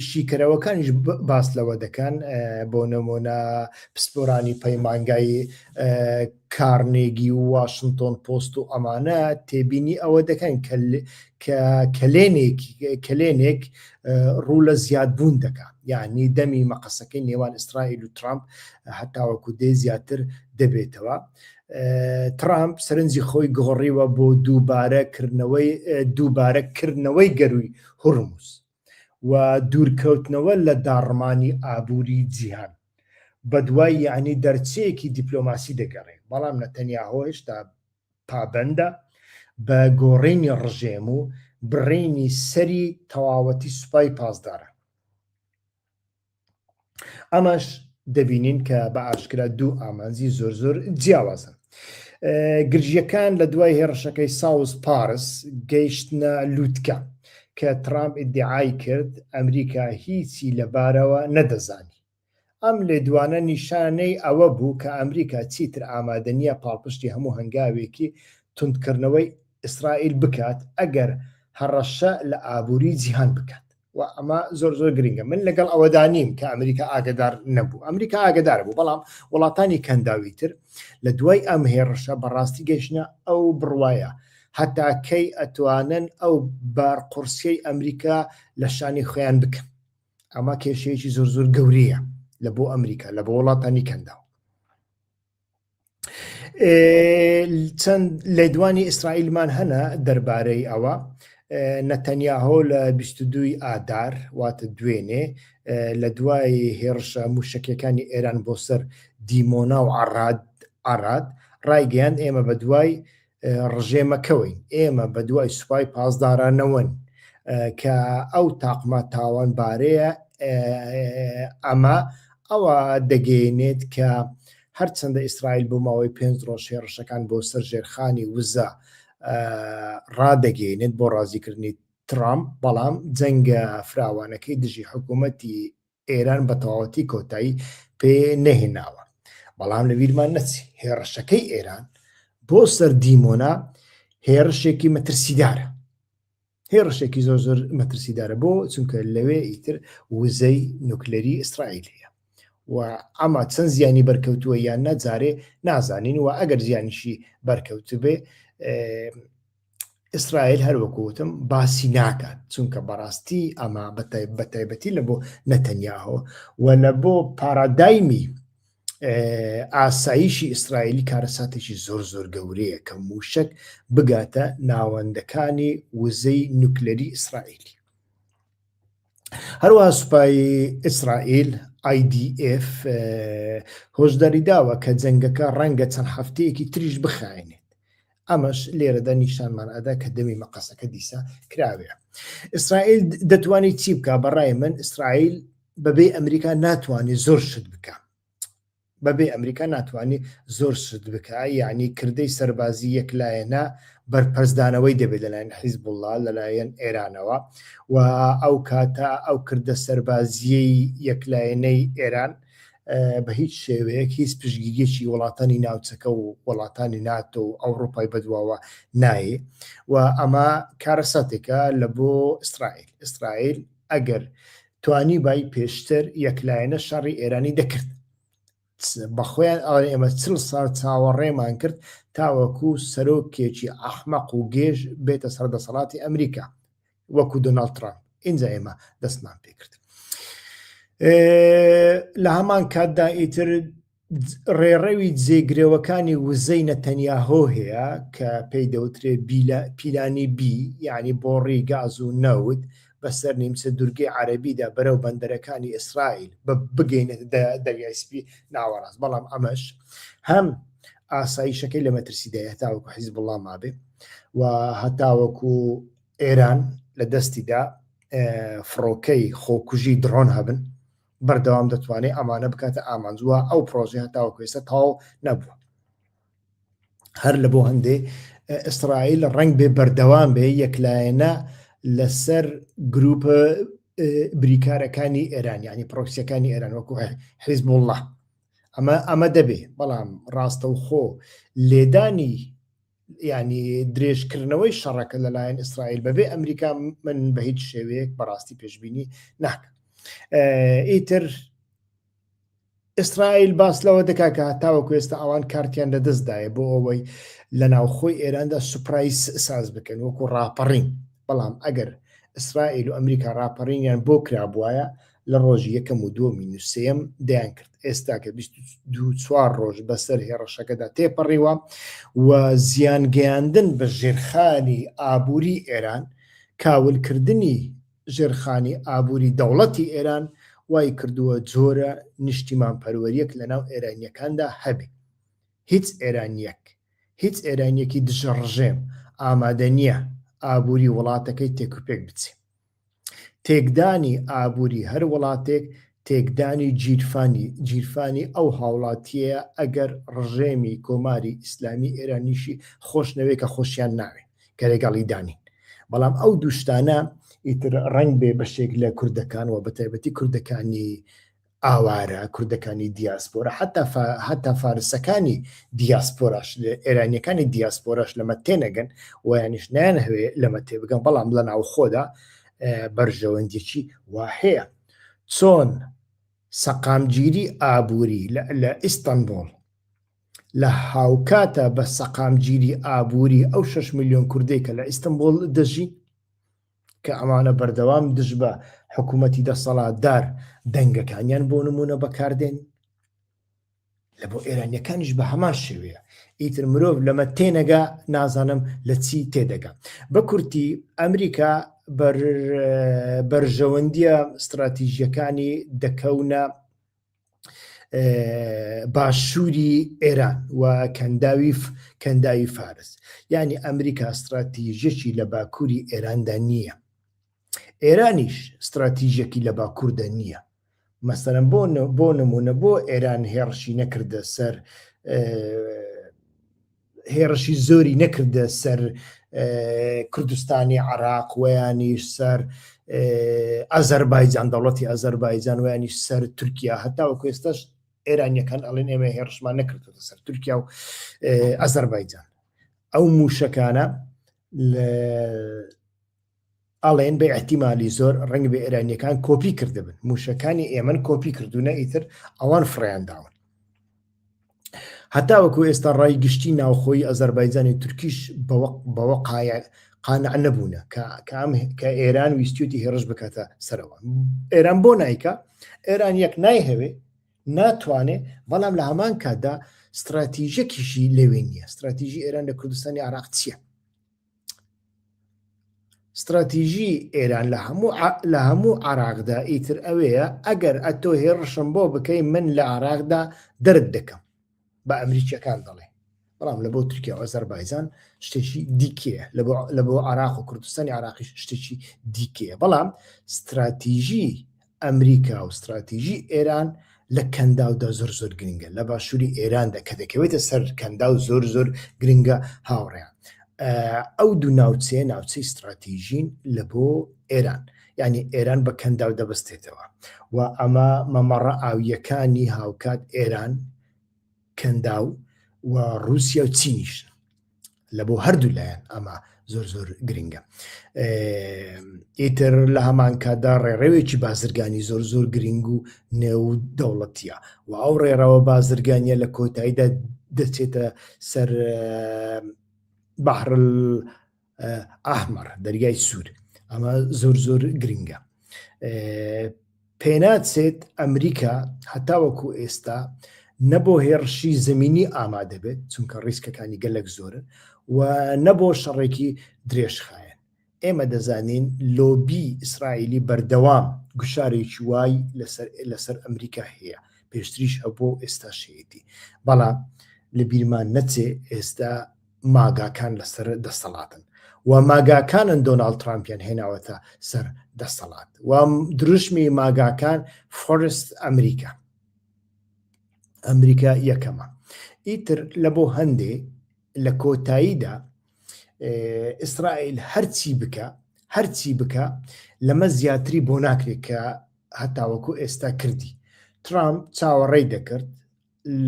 شیکەرەوەکانیش باس لەوە دەکەن بۆ نمۆنە پسپۆرانی پەیمانگای کارنێگی و واشنگتۆن پۆست و ئەمانە تێبینی ئەوە دەکەن کەلێنێک کەلێنێک ڕوو لە زیادبوون دەکە یعنی دەمی مەقەسەکەی نێوان ئیسرائیل و ترامپ هەتاوەکو دێ زیاتر دەبێتەوە ترامپ سەرنجی خۆی گۆڕیوە بۆ دووبارە کردنەوەی دووبارە کردنەوەی گەروی هورمز و دوورکەوتنەوە لە داڕمانی ئابووری جیهان بە دوای یعنی دەرچەیەکی دیپلۆماسی دەگەڕێت بەڵام نەتەنیا هۆشتا پابندە بە گۆڕینی ڕژێم و بڕینی سەری تەواوەتی سوپای پاسدارە ئەمەش دەبینین کە بە ئاشکرا دوو ئامانجی زۆر زۆر جیاوازە گرژیەکان لە دوای هێڕشەکەی ساوز پارس گەیشتە لووتکە کە ترامپ ئیدعای کرد ئەمریکا هیچی لەبارەوە نەدەزانی ئەم لێدوانە نیشانەی ئەوە بوو کە ئەمریکا چیتر ئامادەنیە پاڵپشتی هەموو هەنگاوێکی تونندکردنەوەی ئیسرائیل بکات ئەگەر هەڕەشە لە ئابووری جیهان بکات و ئەمە زۆر زۆر گرنگە من لەگەڵ ئەوەدا نیم کە ئەمریکا ئاگدار نەبوو ئەمریکا ئاگدار بوو بەڵام وڵاتانی کەنداوی تر لە دوای ئەم هێڕشە بەڕاستی گەشتە ئەو بڕواایە هەتا کەی ئەتوانن ئەو بار قورسیەی ئەمریکا لە شانی خۆیان بکەن ئەمە کێشەیەکی زۆر زۆر گەورەیە لە بۆ ئەمریکا لە بۆ وڵاتانی کەنداو چەند لێدوانی ئیسرائیلمان هەنا دەربارەی ئەوە نەتەنیاهۆ لە 22 ئادار واتە دوێنێ لە دوای هێڕشە موشکەکانی ئێران بۆ سەر دیمۆنا و عڕاد ئاراد ڕایگەیان ئێمە بە دوای ڕژێمەکەوەین ئێمە بە دوای سوپای پاسدارانەوەن کە ئەو تاقمە تاوان بارەیە ئەمە ئەوە دەگەێنێت کە هەرچەندە ئیسرائیل بۆ ماوەی پێنج ڕۆژ هێڕشەکان بۆ سەر ژێرخانی وزە ڕادەگەێنێت بۆ ڕازیکردنی ترامپ بەڵام جەنگە فراوانەکەی دژی حکوومەتی ئێران بە تەواوەتی کۆتایی پێ نەهێناوە بەڵام لە ویرمان نەچی هێڕشەکەی ئێران بۆ سەر دیمۆنا هێڕشێکی مەترسیدارە هێڕشێکی زۆر زۆر مەترسیدارە بۆ چونکە لەوێ ئیتر وزەی نوکلەری ئیسرائیل هەیە و ئەما چەند زیانی بەرکەوتووە یان نەجارێ نازانین و ئەگەر زیانیشی بەرکەوتبێ ئیسرائیل هەروەکوتم باسی ناکات چونکە بەڕاستی ئەمە بەتایبەتی لە بۆ نەتەنیاهۆ و لە بۆ پارادایمی ئاساییشی ئیسرائیلی کارەساتێکی زۆر زۆر گەورەیە کە موشک بگاتە ناوەندەکانی وزەی نوکلەری ئیسرائیلی هەروەها سوپای ئیسرائیل IDF هۆشداری داوە کە جەنگەکە ڕەنگە چەند هەفتەیەکی تریش بخایێنێت ئەمەش لێرەدا نیشانمان ئەدا کە دەمی مەقەسەکە دیسە کراوێ ئیسرائیل دەتوانێت چی بکە بەڕای من ئیسرائیل بەبێ ئەمریکا ناتوانێت زۆر شت بکە بەبێ ئەمریکا ناتوانێ زۆر شت بکا، یەعنی کردەی سەربازی یەک لایەنە بەرپەرچدانەوەی دەبێ لەلایەن حیزبوڵڵا، لەلایەن ئێرانەوە و ئەو کاتە ئەو کردە سەربازییەی یەک لایەنەی ئێران بە هیچ شێوەیەک هیچ پشتگیریەکی وڵاتانی ناوچەکە و وڵاتانی ناتۆ و ئەوڕۆپای بەدواوە نایێ و ئەمە کارەساتێکە لە بۆ ئیسرائیل ئیسرائیل ئەگەر توانیبای پێشتر یەکلایەنە شەڕی ئێرانی دەکرد بەخۆیان ئەڵێ ئێمە چل ساڵ چاوەڕێمان کرد تاوەکو سەرۆکێکی ئەحمەق و گێژ بێتە سەر دەسەڵاتی ئەمریکا وەکو دۆناڵد ترامپ ئینجا ئێمە دەستمان پێکرد لە هەمان کاتدا ئیتر ڕێڕەوی جێگرەوەکانی وزەی نەتەنیاهۆ هەیە کە پێی دەوترێ پیلانی بی یعنی بۆڕی گاز و نەوت بەسەر نیمچە دورگەی عەربیدا بەرەو بەندەرەکانی ئیسرائیل بە بگەینە دەریای سپی ناوەڕاست بەڵام ئەمەش هەم ئاساییشەکەی لە مەترسیدای هەتاوەکو حیز بڵام مابێ و هەتاوەکو ئێران لە دەستیدا فڕۆکەی خۆکوژی دڕۆن هەبن بەردەوام دەتوانێت ئەمانە بکاتە ئامانج وە ئەو پرۆژەیە تاوەکو ئێستا تاو نەبووە هەر لە بۆ هەندێ ئیسرائیل ڕنگ بێ بەردەوام بێ یەکلایەنە لەسەر گروپە بریکارەکانی ئێران ینی پرۆکسیەکانی ئێران وەکو حیزب الله ئەمە ئەمە دەبێ بەڵام ڕاستەوخۆ لێدانی ینی درێژکردنەوەی شەڕەکە لەلایەن ئیسرائیل بەبێ ئەمریکا من بە هیچ شێوەیەک بەڕاستی پێشببینی ناکە ئیتر ئیسرائیل باس لەوە دەکا کە هەتاوە کوێستا ئەوان کارتیان لە دەستدایە بۆ ئەوەی لە ناوخۆی ئێراندا سوپرایس ساز بکەن وەکو ڕاپەڕین بەڵام ئەگەر ئیسرائیل و ئەمریکا ڕاپەڕینیان بۆ کرابواە لە ڕۆژی یەکەم و دووەمین و سێیەم دەیان کرد، ئێستاکە بیست و دوو چوار ڕۆژ بەسەر هێڕەشەکەدا تێپەڕیوە و زیان گەیاندن بە ژێرخانی ئابووری ئێران، کاول کردنی ژێرخانی ئابووری دەوڵەتی ئێران وای کردووە جۆرە نیشتیمان پەروەریەک لە ناو ئێرانیەکاندا هەبێ. هیچ ئێرانیەک، هیچ ئێرانیەکی دژە ڕژێم ئامادە نیە ئابووری وڵاتەکەی تێکوپێک بچێ. تێکدانی ئابووری هەر وڵاتێک تێکدانی گیرفانی گیرفانی ئەو هاوڵاتیەیە ئەگەر ڕژێمی کۆماری ئیسلامی ئێرانیشی خۆشنەوێ کە خۆشیان ناوێ کە لەگەڵی دانین بەڵام ئەو دوشتانە ئیتر ڕنگ بێ بەشێک لە کوردەکان و بەتایبەتی کوردەکانی ئاوارە، کوردەکانی دیاسپۆرا، حەتا حەتا فارسەکانی دیاسپۆراش، ئێرانیەکانی دیاسپۆراش لەمە تێنەگەن ویانش نیان هەوێ لەمە تێبگەن بەڵام لە ناوخۆدا بەرژەوەندیی وا هەیە چۆن سەقامگیری ئابووری لە ئیستانبول لە هاوکاتە بە سەقامگیری ئابووری ئەو 6 ملیۆن کوردێکە لە ئیستنبول دەژی کە ئەمانە بەردەوام دژ بە حکوومەتی دەسەڵاتدار دەنگەکانیان بۆ نمونە بەکاردێن لە بۆ ئێرانیەکانیش بە هەمان شێوەیە ئیتر مرۆڤ لەمە تێنەگا نازانم لە چی تێدەگا بە کورتی ئەمریکا بەرژەوەندیە استراتیژیەکانی دەکەونە باشووری ئێران و کەنداوی کەنداوی فارس یعنی ئەمریکا استراتیژەکی لە باکووری ئێراندا نییە ئێرانیش استراتیژەکی لە باکووردە نییە مەسەرم بۆ بۆ نمونە بۆ ئێران هێڕشی نەکردە سەر هێڕشی زۆری نەکردە سەر کوردستانی عراق ویانیش سەر ئازەربایجان دەوڵەتی ئازەربایجان ویانیش سەر تورکیا هەتا و کوێستەش ئێرانیەکان ئەڵێن ئێمە هێڕشمان نەکردوە سەر تورکیا و ئازەربایجان ئەو موشەکانە لە ئەڵێن بە ئیحتیمالی زۆر ڕەنگبێ ئێرانییەکان کۆپی کردبن موشەکانی ئێمن کۆپی کردوونە ئیتر ئەوان فڕیانداون هەتا وەکو ئێستا ڕای گشتی ناوخۆی ئەزەربایجانی تورکیش بەوە قایە قانع نەبوونە کە ئێران ویستوتی هێڕش بکاتە سەرەوە ئێران بۆ نایکە ئێران یەک نایهەوێ ناتوانێ بەڵام لە هەمان کاتدا استراتیژەکیشی لەوێ نییە استراتیژی ئێران لە کوردستانی عراق چییە ستراتیژی ئێران لە هەموو لە هەموو عراقدا ئیتر ئەوەیە ئەگەر ئەتۆ هێڕشم بۆ بکەی من لە عراقدا دەرد دەکەم بە ئەمریکیەکان دەڵێ بەڵام لە بۆ تورکیا ئەزەربایزان شتێکی دیکەیە لە بۆ عراق و کوردستانی عراقیش شتێکی دیکەیە بەڵام ستراتیژی ئەمریکا و ستراتیژی ئێران لە کەنداو دا زۆر زۆر گرنگە لە باشووری ئێران دا کە دەکەوێتە سەر کەنداو زۆر زۆر گرنگە هاوڕێیان ئەو دوو ناوچەیە ناوچەی ستراتیژین لە بۆ ئێران یعنی ئێران بە کەنداو دەبستێتەوە و ئەمە مەمەڕە ئاویەکانی هاوکات ئێران کەنداو و رووسیا و چینیش لە بۆ هەردوو لایەن ئەمە زۆر زۆر گرنگە ئیتر لە هەمان کاتدا ڕێڕەوێکی بازرگانی زۆر زۆر گرنگ و نێو دەوڵەتیە و ئەو ڕێڕەوە بازرگانیە لە کۆتاییدا دەچێتە سەر بەحرل ئەحمەڕ دەریای سوور ئەمە زۆر زۆر گرنگە پێناچێت ئەمریکا هەتاوەکو ئێستا نەبۆ هێڕشی زمینی ئامادە بێت چونکە ڕیسکەکانی گەلک زۆرن و نەبۆ شەڕێکی درێژخایەن ئێمە دەزانین لۆبی ئیسرائیلی بەردەوام گوشارێکی وای لەسەر ئەمریکا هەیە پێشتریش هەبوو ئێستا شێتی بەڵام لە بیرمان نەچێ ئێستا ماگاکان لەسەر دەسەڵاتن و ماگاکانن دۆناڵد ترامپیان هێناوەتە سەر دەسەڵات و دروشمی ماگاکان فۆرست ئەمریکا ئەمریکا یەکەمە ئیتر لە بۆ هەندێ لە کۆتاییدا ئیسرائیل هەرچی بکە هەرچی بکە لەمە زیاتری بۆ ناکرێت کە هەتاوەکو ئێستا کردی ترامپ چاوەڕێی دەکرد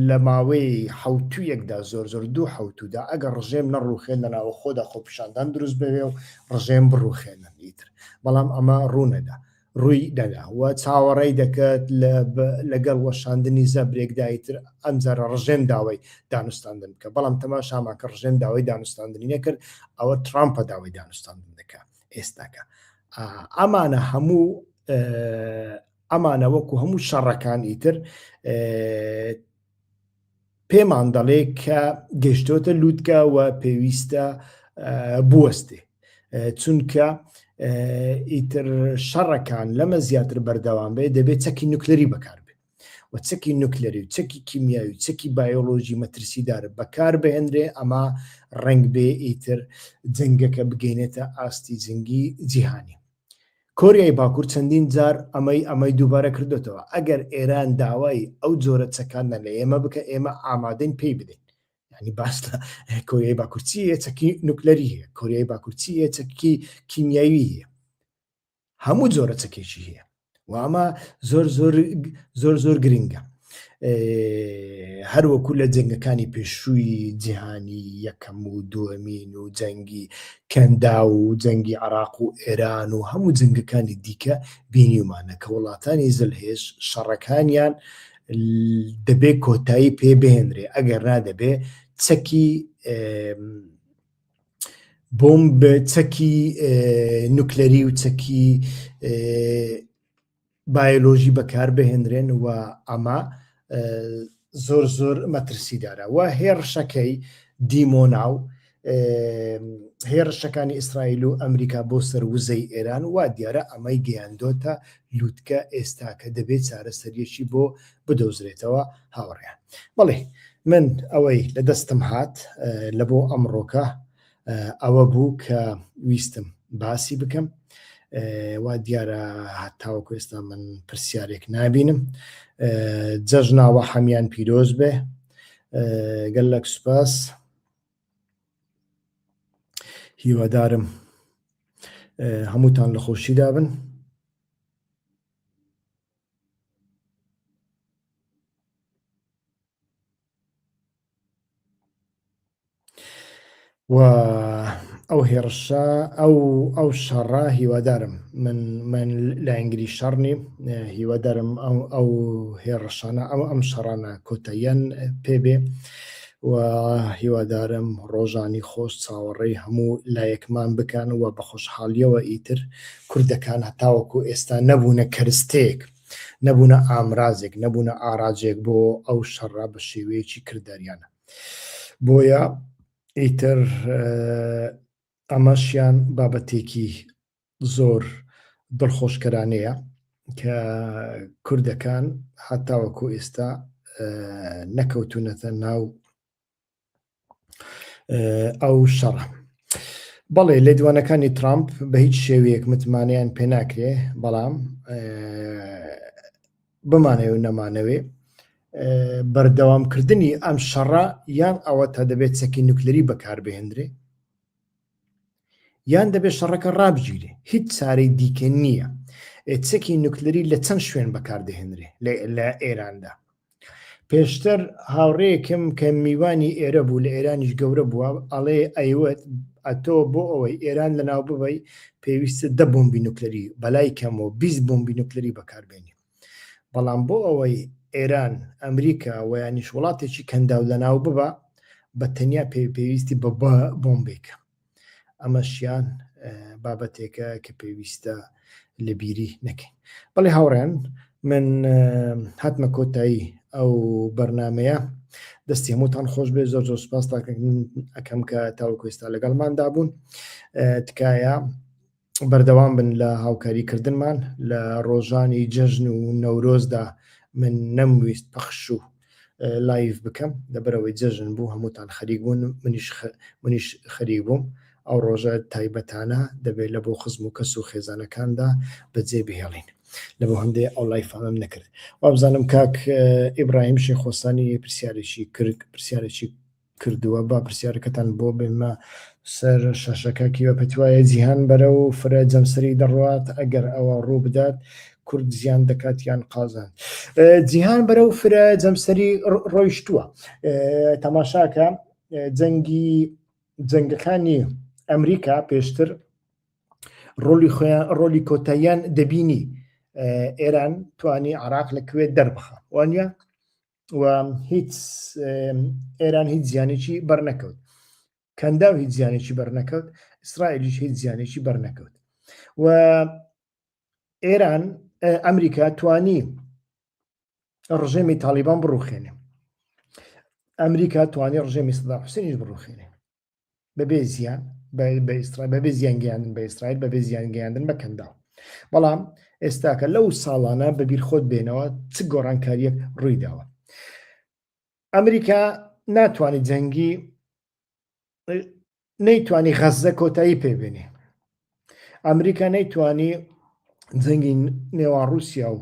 لە ماوەی حەوتوویەکدا زۆر زۆر دوو حەوتوودا ئەگەر ڕژێم نەڕوخێن لە ناوە خۆدا خۆپیشاندان دروست بەوێ و ڕژێم بڕوخێنن ئیتر بەڵام ئەمە ڕوونەدا ڕووی دەدا و چاوەڕێی دەکرد لەگەڵ وەشاندنی زەبرێکدای تر ئەمجارە ڕژێم داوای دانوستاندن بکە بەڵام تەماشامان کە ڕژێم داوای دانوستاندنی نەکرد ئەوە ترامپە داوای دانوستاندن دەکە ئێستاکە ئەمانە هەموو ئەمانە وەکو هەموو شەڕەکان ئیتر پێمان دەڵێ کە گەشتۆتە لووتکە و پێویستە بوەستێ چونکە ئیتر شەڕەکان لەمە زیاتر بەردەوام بێ دەبێت چەکی نوکلری بەکار و چەکی نوکلەری و چەکی کیمیاوی و چەکی بایۆلۆژی مەترسیدار بەکار بهێنرێ ئەمە ڕنگ بێ ئیتر جنگەکە بگەینێتە ئاستی جنگی جیهانی کۆریای باکور چەندین جار ئەمەی ئەمەی دووبارە کردۆتەوە، ئەگەر ئێران داوای ئەو جۆرە چەکانە لە ئێمە بکە ئێمە ئامادەین پێی بدەین. یانی باس لە کۆریای باکور چی هەیە چەکی نوکلەری هەیە، کۆریای باکور چی هەیە چەکی کیمیاوی هەیە، هەموو جۆرە چەکێکی هەیە. و ئەمە زۆر زۆر زۆر زۆر گرنگە هەروەکو لە جەنگەکانی پێشووی جیهانی یەکەم و دووەمین و جەنگی کەندا و جەنگی عراق و ئێران و هەموو جنگەکانی دیکە بینیمانە کە وڵاتانی زلهێش شەڕەکانیان دەبێ کۆتایی پێ بهێنرێ ئەگەر نادەبێ چەکی بۆمب چەکی نوکلەری و چەکی بایۆلۆژی بەکاربهێنرێن و ئەمە زۆر زۆر مەترسیدارە و هێڕشەکەی دیمۆنا و هێڕشەکانی ئیسرائیل و ئەمریکا بۆ سەر وزەی ئێران وا دیارە ئەمەی گەیاندۆتە لووتکە ئێستاکە دەبێت چارەسەریەکی بۆ بدۆزرێتەوە هاوڕێیان بەڵێ من ئەوەی لە دەستم هات لە بۆ ئەمڕۆکە ئەوە بوو کە ویستم باسی بکەم وا دیارە هەتاوەکو ئێستا من پرسیارێک نبینم جەژناوە حەمیان پیرۆز بێ گەلەک سوپاس هیوادارم هەمووتان لە خۆشیدا بن و ئەو هێڕشە ئەو ئەو شەڕە هیوادارم من من لایەنگری شەڕ نیم هیوادارم ئەو ئەو هێڕشانە ئەو ئەم شەڕانە کۆتاییان پێبێ و هیوادارم ڕۆژانی خۆش چاوەڕێی هەموو لایەکمان بکەن و بە خۆشحاڵیەوە ئیتر کوردەکان هەتاوەکو ئێستا نەبوونە کەرستەیەک، نەبوونە ئامرازێک، نەبوونە ئاراجێک بۆ ئەو شەڕە بە شێوەیەکی کرداریانە. بۆیە ئیتر ئەمەشیان بابەتێکی زۆر دڵخۆشکەرانەیە کە کوردەکان هەتاوەکو ئێستا نەکەوتونەتە ناو ئەو شەڕە بەڵێ لێدوانەکانی ترامپ بە هیچ شێوەیەک متمانیان پێ ناکرێ بەڵام بمانەوە و نەمانەوێ بەردەوامکردنی ئەم شەڕە یان ئەوە تا دەبێت چەکی نوکلری بەکاربهێنرێ یان دەبێت شەڕەکە ڕابگیرێ هیچ چارەی دیکە نییە چەکی نوکلری لە چەند شوێن بەکاردەهێنرێ لە ئێراندا پێشتر هاوڕێکم کە میوانی ئێرە بوو لە ئێرانیش گەورە بووە ئەڵێ ئەیوت ئەتۆ بۆ ئەوەی ئێران لە ناو ببی پێویستە دە بۆمبی نوکلری بەلای کەم و 20 بۆمبی نوکلری بەکاربێنی بەڵام بۆ ئەوەی ئێران، ئەمریکا و یانیش وڵاتێکی کەنداو لەناو ببا بە تەنیا پێ پێویستی بە بە بۆمبێکە. ئەمەشیان بابەتێکە کە پێویستە لە بیری نەکەین. بەڵێ هاوڕێن من هاتمە کۆتایی ئەو بەرنمەیە دەستی هەمووتان خۆش بێ زۆر زۆر سپاس تاکەکەم کە تاوەکوێستا لەگەڵماندا بوون تکایە بەردەوام بن لە هاوکاری کردنمان لە ڕۆژانی جەژن و نەورۆزدا من نەمویست پەخش و لایف بکەم لەبەرەوەی جەژن بوو هەمووتان خەریک بوون منیش منیش خەریک بووم ئەو ڕۆژە تایبەتانە دەبێت لە بۆ خزم و کەس و خێزانەکاندا بەجێ بهێڵین لە بۆ هەندێ ئەو لایفانم نەکرد وابزانم کاک ئیبراهیم شێخۆسانی پرسیارێکی کرد پرسیارێکی کردووە با پرسیارەکەتان بۆ بێنمە سەر شاشەکە کیوە پێتوایە جیهان بەرەو فرە جەمسەری دەڕوات ئەگەر ئەوە ڕووبدات کورد زیان دەکات یان قازان جیهان بەرەو فرە جەمسەری ڕۆیشتووە تەماشاکە جەنگی جەنگەکانی ئەمریکا پێشتر ڕۆلی خۆیان ڕۆلی کۆتاییان دەبینی ئێران توانی عراق لە کوێت دەربخە وانە و هیچ ئێران هیچ زیانێکی بەرنەکەوت کەنداو هیچ زیانێکی بەرنەکەوت ئیسرائیلیش هیچ زیانێکی بەرنەکەوت و ئێران ئەمریکا توانی ڕژێمی تاالبان بڕوخێنێ ئەمریکا توانی ڕژێمی سدا حوسێنیش بڕوخێنێ بەبێ زیان بە ئیسرائیل بەبێ زیان گەیاندن بە ئیسرائیل بەبێ زیان گەیاندن بە کەنداو بەڵام ئێستاکە لەو ساڵانە بەبیر خۆت بێنەوە چ گۆڕانکاریەک ڕوویداوە ئەمریکا ناتوانانی جەنگی نەیتوانی غەزە کۆتایی پێبێنێ ئەمریکا نەیتوانی جەنگی نێوان رووسیا و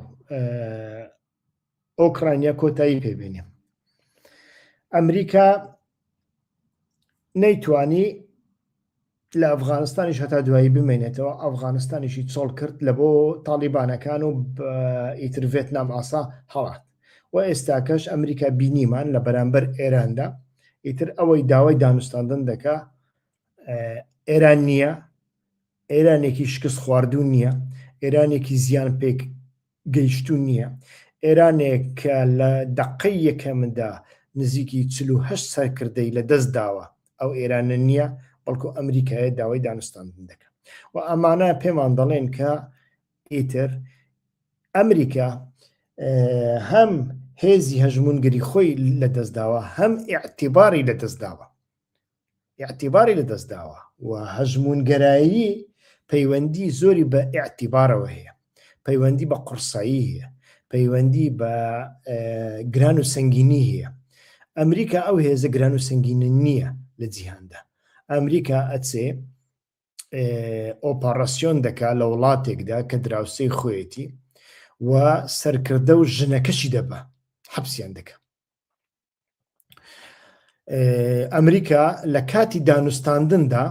ئۆکرانیا کۆتایی پێبێنێ ئەمریکا نەیتوانی لە ئەفغانستانیش هەتا دوایی بمێنێتەوە ئەفغانستانیشی چۆڵ کرد لە بۆ تاڵیبانەکان و ئیتر ڤێتنام ئاسا هەڵات و ئێستاکەش ئەمریکا بینیمان لە بەرامبەر ئێراندا ئیتر ئەوەی داوای دانوستاندن دەکا ئێران نییە ئێرانێکی شکست خواردون نییە ئێرانێکی زیان پێک گەیشتوو نییە. ئێرانێک کە لە دەقەی یەکەمدا نزیکی چل و هەشت سەرکردەی لە دەست داوە، ئەو ئێرانە نییە، بەڵکو ئەمریکایە داوای دانوستاندن دەکا و ئەمانە پێمان دەڵێن کە ئیتر ئەمریکا هەم هێزی هەژموونگری خۆی لە دەست داوە، هەم ئیعتیباری لە دەست داوە. ئیعتیباری لەدەستداوە و هەژموونگەرایی پەیوەندی زۆری بە ئیعتیبارەوە هەیە پەیوەندی بە قڕسایی هەیە پەیوەندی بە گران و سنگینی هەیە ئەمریکا ئەو هێزە گران و سنگینە نییە لە جیهاندا ئەمریکا ئەچێ ئۆپاراسیۆن دەکا لە وڵاتێکدا کە دراوسەی خۆیەتی و سەرکردە و ژنەکەشی دەبە حەپسیان دەکە ئەمریکا لە کاتی دانوستاندندا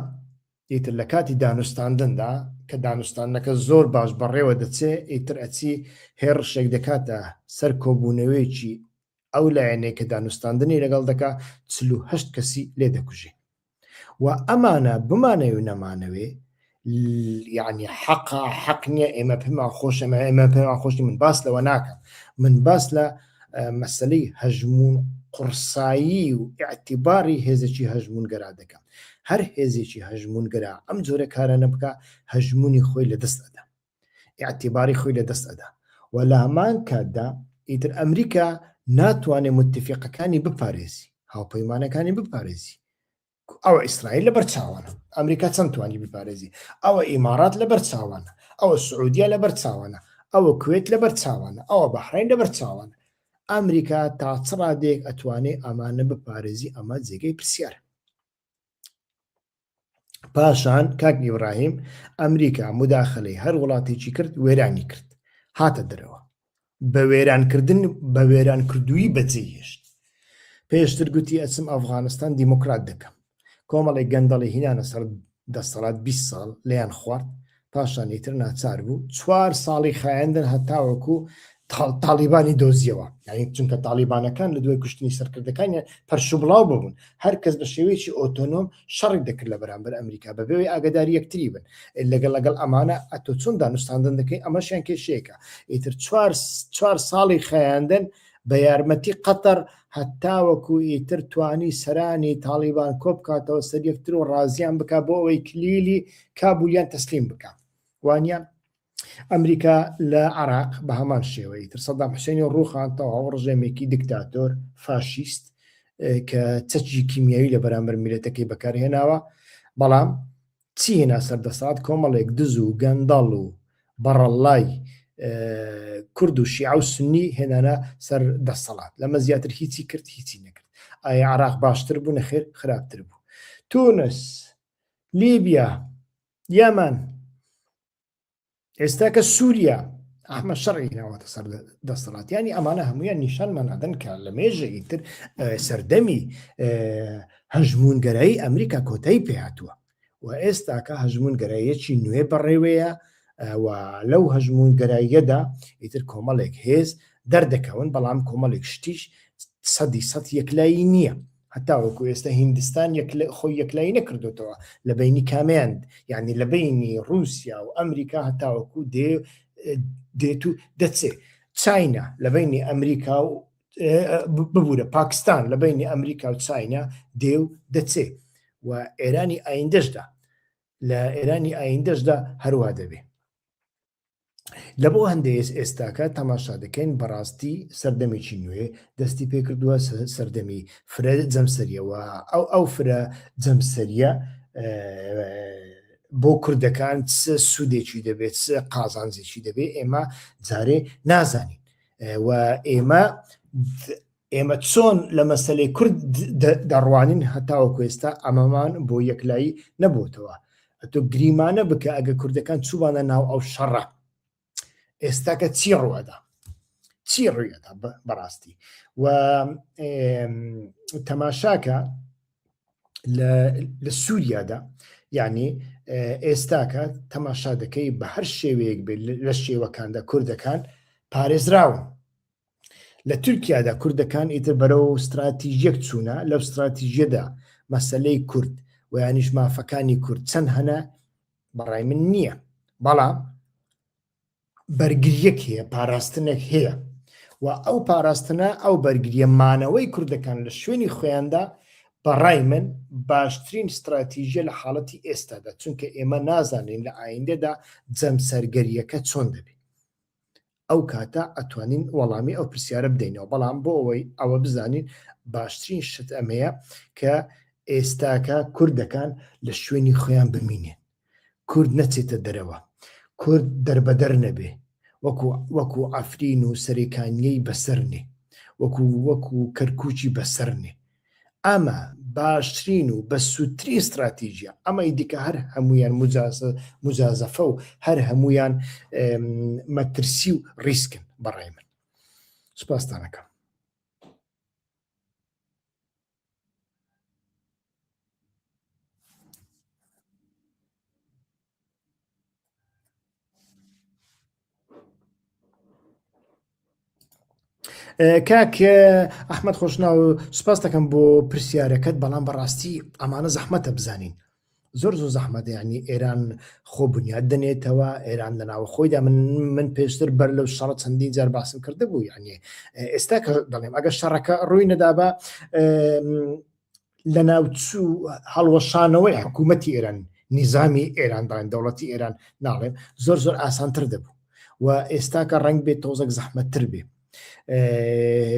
ئیتر لە کاتی دانوستاندندا کە دانوستانەکە زۆر باش بەڕێوە دەچێ ئیتر ئەچی هێڕشێک دەکاتە سەر کۆبوونەوەیەکی ئەو لایەنێک کە دانوستاندنی لەگەڵ دەکا چه کەسی لێ دەکوژێ و ئەمانە بمانەوێ و نەمانەوێ یعنی حەقا حەق نییە ئێمە پێما خۆشەمە ئێمە پێما خۆشی من باس لەوە ناکەم من باس لە مەسلەی هەژمون قڕسایی و اعتیباری هێزێکی هەژمونگەرا دەکەم هەر هێزێکی هەژمونگەرا ئەم جۆرە کارانە بکە هەژمونی خۆی لە دەست ئەدا ئیعتیباری خۆی لەدەست ئەدا و لامان کاتدا ئیتر ئەمریکا ناتوانێ موتفیقەکانی بپارێزی هاوپەیمانەکانی بپارێزی ئەوە ئیسرائیل لەبەر چاوانە ئەمریکا چەند توانی بپارێزی ئەوە ئیمارات لەبەر چاوانە ئەوە سعودیا لەبەر چاوانە ئەوە کوێت لەبەر چاوانە ئەوە بەحرین لەبەر چاوانە ئەمریکا تا چڕادێک ئەتوانێ ئەمانە بپارێزی ئەمە جێگەی پرسیار پاشان کاک ئیبراهیم ئەمریکا مداخلەی هەر وڵاتێکی کرد وێرانی کرد هاتە دەرەوە بە وێرانکردن بە وێران کردووی بەجێهێشت پێشتر گوتی ئەچم ئەفغانستان دیموکرات دەکەم کۆمەڵی گەندەڵی هینانە سەر دەسەڵات 20 ساڵ لەیان خوارد پاشان ئیتر ناچار بوو چوار ساڵی خایەندن هەتاوەکو تاڵیبانی دۆزیەوە یعنی چونکە تاڵیبانەکان لە دوای کوشتنی سەرکردەکانیان پەرشبڵاو ببوون هەر کەس بە شێوەیەکی ئۆتۆنۆم شەڕی دەکرد لە بەرامبەر ئەمریکا بەبێەوەی ئاگدار یەکتری بن لەگەڵ لەگەڵ ئەمانە ئەتۆ چۆن دانوستاندن دەکەی ئەمەشیان کێشەیەەکە ئیتر چوار ساڵی خەیاندن بە یارمەتی قەتەر هەتاوەکو ئیتر توانی سەرانی تاڵیبان کۆبکاتەوە سەر یەکتر و ڕازیان بک بۆ ئەوەی کلیلی کابول یان تەسلیم بکە وانە ئەمریکا لە عراق بە هەمان شێوەی تر سەدام حوسێنی و ڕوخان تەواو ڕژێمێکی دکتاتۆر فاشیست کە چەکی کیمیایی لە بەرامبەر میلەتەکەی بەکارهێناوە بەڵام چی هێنا سەردەسات کۆمەڵێک دز و گەندەڵ و بەڕەڵای کورد و شیع و سنی هێنانە سەر دەسەڵات لەمە زیاتر هیچی کرد هیچی نەکرد ئایا عراق باشتر بوو نەخێر خراپتر بوو تونس لیبیا یەمەن ئێستا کە سووریا ئەحمە شەڕی ناوەتە سەر دەسەڵاتیانی ئەمانە هەمویان نیشانمان نادەن کە لە مێژە ئیتر سەردەمی هەژمونگەرایی ئەمریکا کۆتایی پێهاتووە و ئێستاکە هەژمونگەرایەکی نوێ بەڕێوەیە و لەو هەژمونگەراییەدا ئیتر کۆمەڵێک هێز دەردەکەون بەڵام کۆمەڵێک شتیش سەدی سە یەکلایی نییە هەتاوەکو ئێستا هیندستان خۆی یەکلایی نەکردوتەوە لە بینی کامیان یعنی لە بینی رووسیا و ئەمریکا هەتاوەکو دێ دێت و دەچێ چاینا لە بینی ئەمریکا و ببوورە پاکستان لە بینی ئەمریکا و چاینا دێ و دەچێ و ئێرانی ئایندەشدا لە ئێرانی ئایندەشدا هەروە دەبێ لە بۆ هەندێک ئێستاکە تەماشا دەکەین بەڕاستی سەردەمێکی نوێ دەستی پێکردووە سەردەمی فرە جەمسەریەوە ئەو ئەو فرە جەمسەریە بۆ کوردەکان چ سوودێکی دەبێت چ قازانجێکی دەبێت ئێمە جارێ نازانین و ئێمە ئێمە چۆن لە مەسلەی کورد دەڕوانین هەتاوەکو ئێستا ئەمەمان بۆ یەکلایی نەبووتەوە ئەتۆ گریمانە بکە ئەگە کوردەکان چوبانە ناو ئەو شەڕە ئێستاکە چی ڕوەدا چی ڕویەدا بەڕاستی و تەماشاکە لە سووریادا یعنی ئێستاکە تەماشا دەکەی بە هەر شێوەیەک بێت لە شێوەکاندا کوردەکان پارێزراون لە تورکیادا کوردەکان ئیتر بەرەو ستراتیژیەک چوونە لەو ستراتیژیەدا مەسلەی کورد و یانیش مافەکانی کورد چەند هەنە بەڕای من نییە بەڵام بەرگریەک هەیە پاراستنێک هەیە و ئەو پاراستنە ئەو بەرگریە مانەوەی کوردەکان لە شوێنی خۆیاندا بەڕای من باشترین ستراتیژە لە حاڵەتی ئێستادا چونکە ئێمە نازانین لە ئایندەدا جەمسەرگەریەکە چۆن دەبێت ئەو کاتە ئەتوانین وەڵامی ئەو پرسیارە بدەینەوە بەڵام بۆ ئەوەی ئەوە بزانین باشترین شت ئەمەیە کە ئێستاکە کوردەکان لە شوێنی خۆیان بمینێن کورد نەچێتە دەرەوە کورد دەربەدەر نەبێ وەکو وەکو ئەفرین و سەرێکانیەی بەسەرنێ وەکو وەکو کەرکوچی بەسەرنێ ئەمە باشترین و بە سوودترین ستراتیژە ئەمەی دیکە هەر هەمویان مجازەفە و هەر هەمویان مەترسی و ریسکن بەڕای من سپاستانەکەم کاک ئەحمد خۆشنا و سپاس دەکەم بۆ پرسیارەکەت بەڵام بەڕاستی ئەمانە زەحمەتە بزانین زۆر زۆر زەحمەت ینی ئێران خۆ بنیاد دەنێتەوە ئێران لە ناوە خۆیدا من من پێشتر بەر لەو شەڕە چەندین جار باسم کرده بوو یعنی ئێستا کە دەڵێم ئەگە شەڕەکە ڕووی نەدابا لەناوچوو هەڵوەشانەوەی حکوومەتی ئێران نیزامی ئێراندان دەوڵەتی ئێران ناڵێم زۆر زۆر ئاسانتر دەبوو و ئێستاکە ڕنگ بێت تۆزەک زەحمەتتر بێ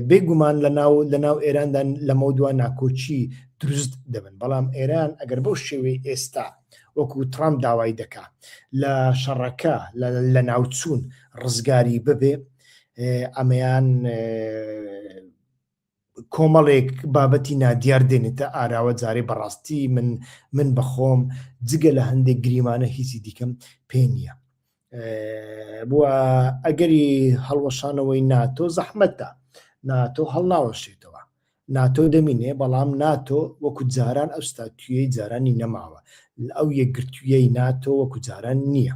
بێگومان لە ناو لە ناو ئێراندا لەمە دووان ناکۆچی دروست دەبن بەڵام ئێران ئەگەر بەو شێوەی ئێستا وەکو ترامپ داوای دەکا لە شەڕەکە لە ناوچوون ڕزگاری ببێ ئەمەیان کۆمەڵێک بابەتی نادیار دێنێتە ئاراوە جارێ بەڕاستی من من بەخۆم جگە لە هەندێک گریمانە هیچی دیکەم پێ نییە بووە ئەگەری هەڵوەشانەوەی ناتۆ زەحمەتە ناتۆ هەڵناوەشێتەوە ناتۆ دەمینێ بەڵام ناتۆ وەکو جاران ئەو ستاتویەی جارانی نەماوە ئەو یەکگرتوویەی ناتۆ وەکو جاران نییە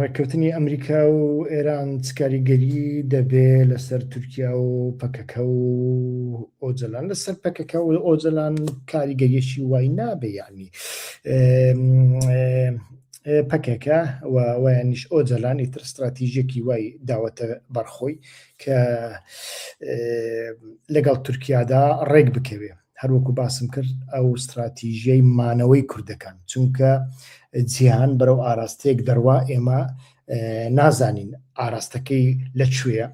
ڕێککەوتنی ئەمریکا و ئێران چکاریگەری دەبێ لەسەر تورکیا و پەکەکە و ئۆجلان لەسەر پەکەکە و ئۆجلان کاریگەریشی وای نابێ یعنی پەکەکە و وایانیش ئۆجلان ئیتر استراتیژێکی وای داوەتە بەرخۆی کە لەگەڵ تورکیادا ڕێک بکەوێ هەر وەکو باسم کرد ئەو ستراتیژیەی مانەوەی کوردەکان چونکە جیهان بەرەو ئاراستەیەک دەروا ئێمە نازانین ئاراستەکەی لە کوێە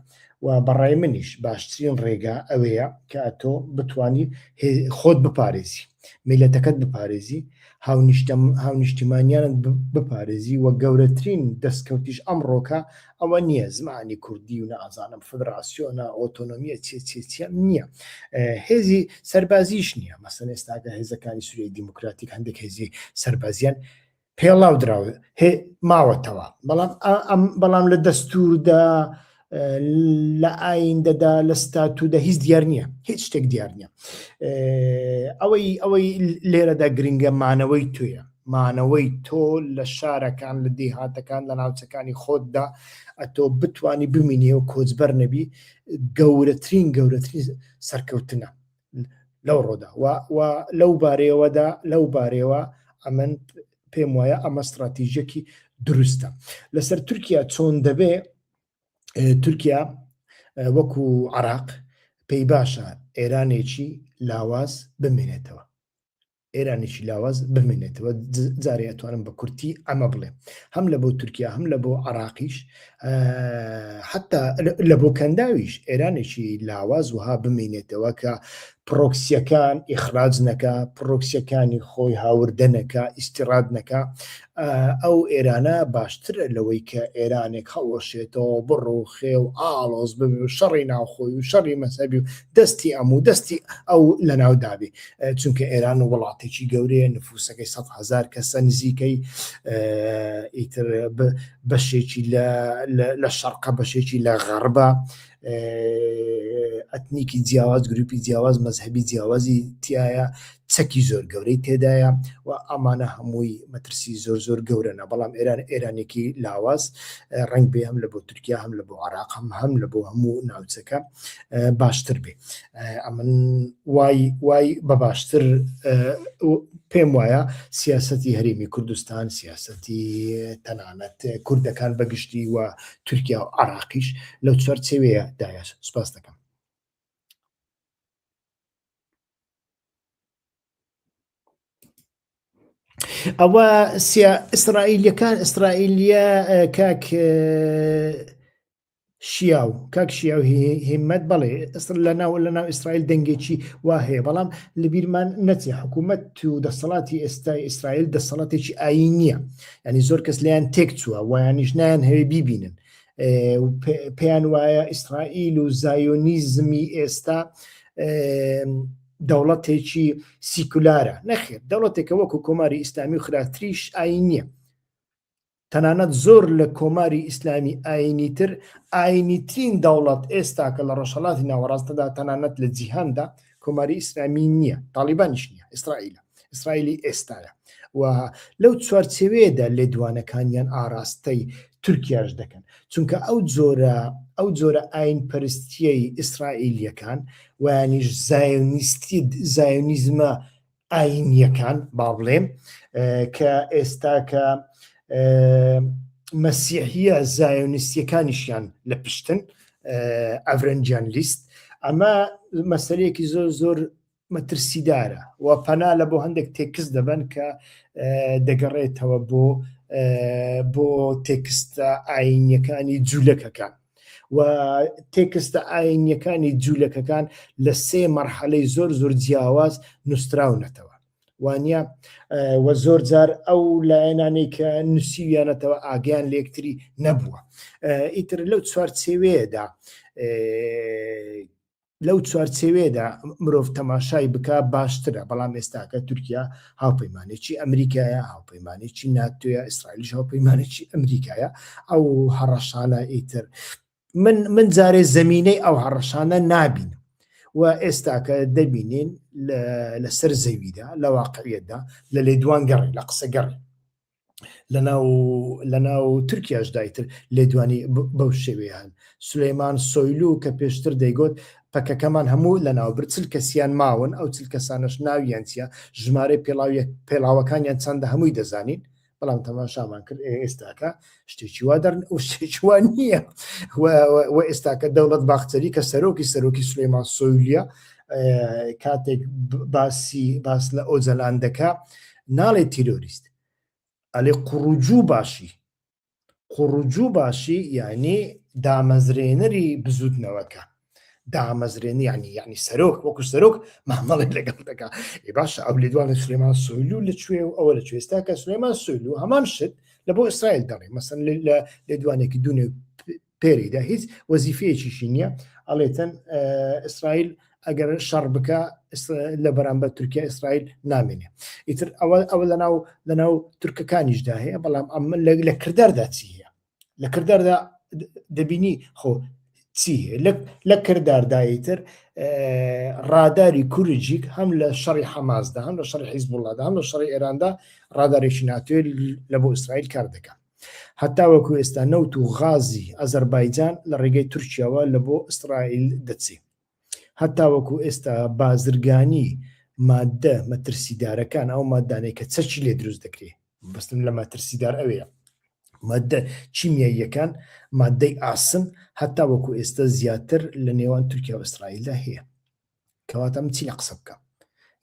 و بەڕای منیش باشترین ڕێگا ئەوەیە کە ئەتۆ بتانی خۆت بپارێزی میلەتەکەت بپارێزی هاونیشتیمانیانت بپارێزی و گەورەترین دەستکەوتیش ئەمڕۆکە ئەوە نییە زمانی کوردی و نازانم فدراسیۆنە ئۆتۆنمیە چێ چێ چێ نییە هێزی سەربازیش نییە مەسن ئێستاگە هێزەکانی سووری دیموکراتیک هەندێک هێزی سەربازیان پێڵاو دراو هێ ماوەتەوە بەڵام ئەم بەڵام لە دەستوردا لە ئایندەدا لە ستاتودا هیچ دیار نییە هیچ شتێک دیار نییە ئەوەی ئەوەی لێرەدا گرنگە مانەوەی توێە مانەوەی تۆ لە شارەکان، لە دێهاتەکان، لە ناوچەکانی خۆتدا، ئەتۆ بتوانی بمینی و کۆچبەر نەبی، گەورەترین گەورەترین سەرکەوتنە لەو ڕۆدا و و لەو بارەیەوەدا لەو بارەیەوە ئەمن پێم وایە ئەمە ستراتیژەکی دروستە لەسەر تورکیا چۆن دەبێ تورکیا وەکو عراق پێی باشە ئێرانێکی لاواز بمێنێتەوە ئێرانێکی لاواز بمێنێتەوە جارێ ئەتوانم بە کورتی ئەمە بڵێ هەم لە بۆ تورکیا هەم لە بۆ عراقیش حتا لە بۆ کەنداویش ئێرانێکی لاواز وها بمێنێتەوە کە پرۆکسیەکان ئیخراج نەکە پرۆکسیەکانی خۆی هاوردەنەکە ئیسیڕات نەکە ئەو ئێرانە باشترە لەوەی کە ئێرانێک هەڵوەشێتەوە بڕوخێ و ئاڵۆز ببێ و شەڕی ناوخۆی و شەڕی مەسەبی و دەستی ئەم و دەستی ئەو لە ناو دابێ چونکە ئێران و وڵاتێکی گەورەیە نفوسەکەی سە هزار کەسە نزیکەی ئیتر بەشێکی لە شەرقە بەشێکی لە غەربە ئەتنیکی جیاواز گروپی جیاواز مەذهبی جیاوازی تایە چەکی زۆر گەورەی تێدایە و ئەمانە هەمووی مەترسی زۆر زۆر گەورەە بەڵام ئێران ئێرانێکی لاواز ڕنگ بێ هەم لە بۆ تورکیا هەم لە بۆ عراق هەم هەم لە بۆ هەموو ناوچەکە باشتر بێ ئەمن وای وای بە باشتر پێم وایە سیاستی هەرێمی کوردستان سیاستی تەنانەت کوردەکان بەگشتی و تورکیا و عراقیش لەو چوار چێوەیە دایە سوپاس دەکەم ئەوە سیا ئیسرائیلەکان ئیسرائیلیە کاک شیاو کاک شیاو هیمەت بەڵێ ئەسر لە ناو لە ناو ئیسرائیل دەنگێکی وا هەیە بەڵام لە بیرمان نەچێ حکوومەت و دەسەڵاتی ئێستای ئیسرائیل دەسەڵاتێکی ئاین نییە ینی زۆر کەس لیان تێک چووە وایانیش نایان هەوێ بیبینن پێیان وایە ئیسرائیل و زایۆنیزمی ئێستا دەوڵەتێکی سیکولارە نەخێت دەوڵەتێکە وەکو کۆماری ئیسلامی و خراپتریش ئاین نییە تەنانەت زۆر لە کۆماری ئیسلامی ئاینی تر ئاینیترین دەوڵەت ئێستاکە لە ڕۆژهڵاتی ناوەڕاستەدا تەنانەت لە جیهاندا کۆماری ئیسلامی نییە تاالبانیش نیە ئیسرائیل ئیسرائیلی ئێستاە و لەو چوارچەوەیەدا لێدوانەکانیان ئاراستەی تورکیاش دەکەن چونکە ئەو جۆرە ئەو جۆرە ئاین پەرستیەی ئیسرائیلیەکان وانیش زایۆنیستی زایۆنیزمە ئاینیەکان باڵێن کە ئێستا کە مەسیحە زایۆنیستیەکانیشیان لە پشتن ئەڤرەنجان لیست ئەمە مەسەرەیەکی زۆر زۆر مەترسیدارە و پەنا لە بۆ هەندێک تێکس دەبن کە دەگەڕێتەوە بۆ بۆ تێکستە ئاینیەکانی جوولەکەکان و تێکستە ئاینیەکانی جوولەکەکان لە سێ مەرحەلەی زۆر زۆر جیاواز نووسراونەتەوە وانە وە زۆر جار ئەو لایەنانەی کە نووسیویانەتەوە ئاگیان لەکتری نەبووە ئیتر لەو چوارچێوەیەدا لەو چوارچێوێدا مرۆڤ تەماشای بک باشترە بەڵام ئێستاکە تورکیا هاوپەیمانێکی ئەمریکایە هاوپەیمانێکی ناتوێە ئیسرائیلیش هاوپەیمانێکی ئەمریکایە ئەو هەڕەشانە ئیتر من من جارێ زمینەی ئەو هەڕەشانە نابین و ئێستاکە دەبینین لەسەر زەویدا لە واقعیتدا لە لێ دوان گەڕی لە قسە گەڕی لە ناو تورکیاش دایتر لێدوانی بەو شێوەیان سلەیمان سۆیلو کە پێشتر دەیگوت پەکەکەمان هەموو لە ناو برچل کەسیان ماون ئەو چل کەسانش ناویان چیە ژمارەی پێڵاویە پێڵاوەکانیان چەندە هەمووی دەزانین بەڵام تەماشامان کرد ئێستاکە شتێکی وا دەرن و شتێکوان نییە و ئێستاکە دەوڵەت باخچەری کە سەرۆکی سەرۆکی سلەیمان سۆیلیە کاتێک باسی باس لە ئۆجەلان دەکە ناڵێ تیرۆریست ئەلێ قوڕوجوو باشی قوڕوجوو باشی یعنی دامەزرێنەری بزوتنەوەکە دامەزرێنی ینی یعنی سەرۆک وەکو سەرۆک مامەڵێک لەگەڵ دەکا ێ باشە ئەو لێدوان لە سلێمان سویلو لە کوێ و ئەوە لە کوێستا کە سلێمان سویلو هەمان شت لە بۆ ئیسرائیل دەڵێ مەسن لە لێدوانێکی دوونێ پێریدا هیچ وەزیفەیەکیشی نییە ئەڵێتەن ئیسرائیل ئەگەر شەڕ بکە لە بەرامبەر تورکیا ئیسرائیل نامێنێ ئیتر ئەوە ئەوە لەناو لەناو تورکەکانیشدا هەیە بەڵام ئەم لە کرداردا چی هەیە لە کرداردا دەبینی خۆ چی لە کردارداییتر ڕاداری کورجیک هەم لە شەڕی حەمازدا هەم لە شەڕی حیزب وڵادا هەم لە شەڕی ئێراندا ڕادارێکی ناتوێت لە بۆ ئیسرائیل کار دەکات هەتاوەکو ئێستا نەوت و غازی ئازەربایجان لە ڕێگەی تورکیاوە لە بۆ ئیسرائیل دەچێ. هەتاوەکو ئێستا بازرگانی ماددە مەترسیدارەکان، ئەو ماددانەی کە چەکی لێ دروست دەکرێ، مەبەستم لە مەترسیدار ئەوێیە ماددە کیمیاییەکان، ماددەی ئاسن هەتاوەکو ئێستا زیاتر لە نێوان تورکیا و ئیسرائیلدا هەیە. کەواتە من چی لە قسە بکەم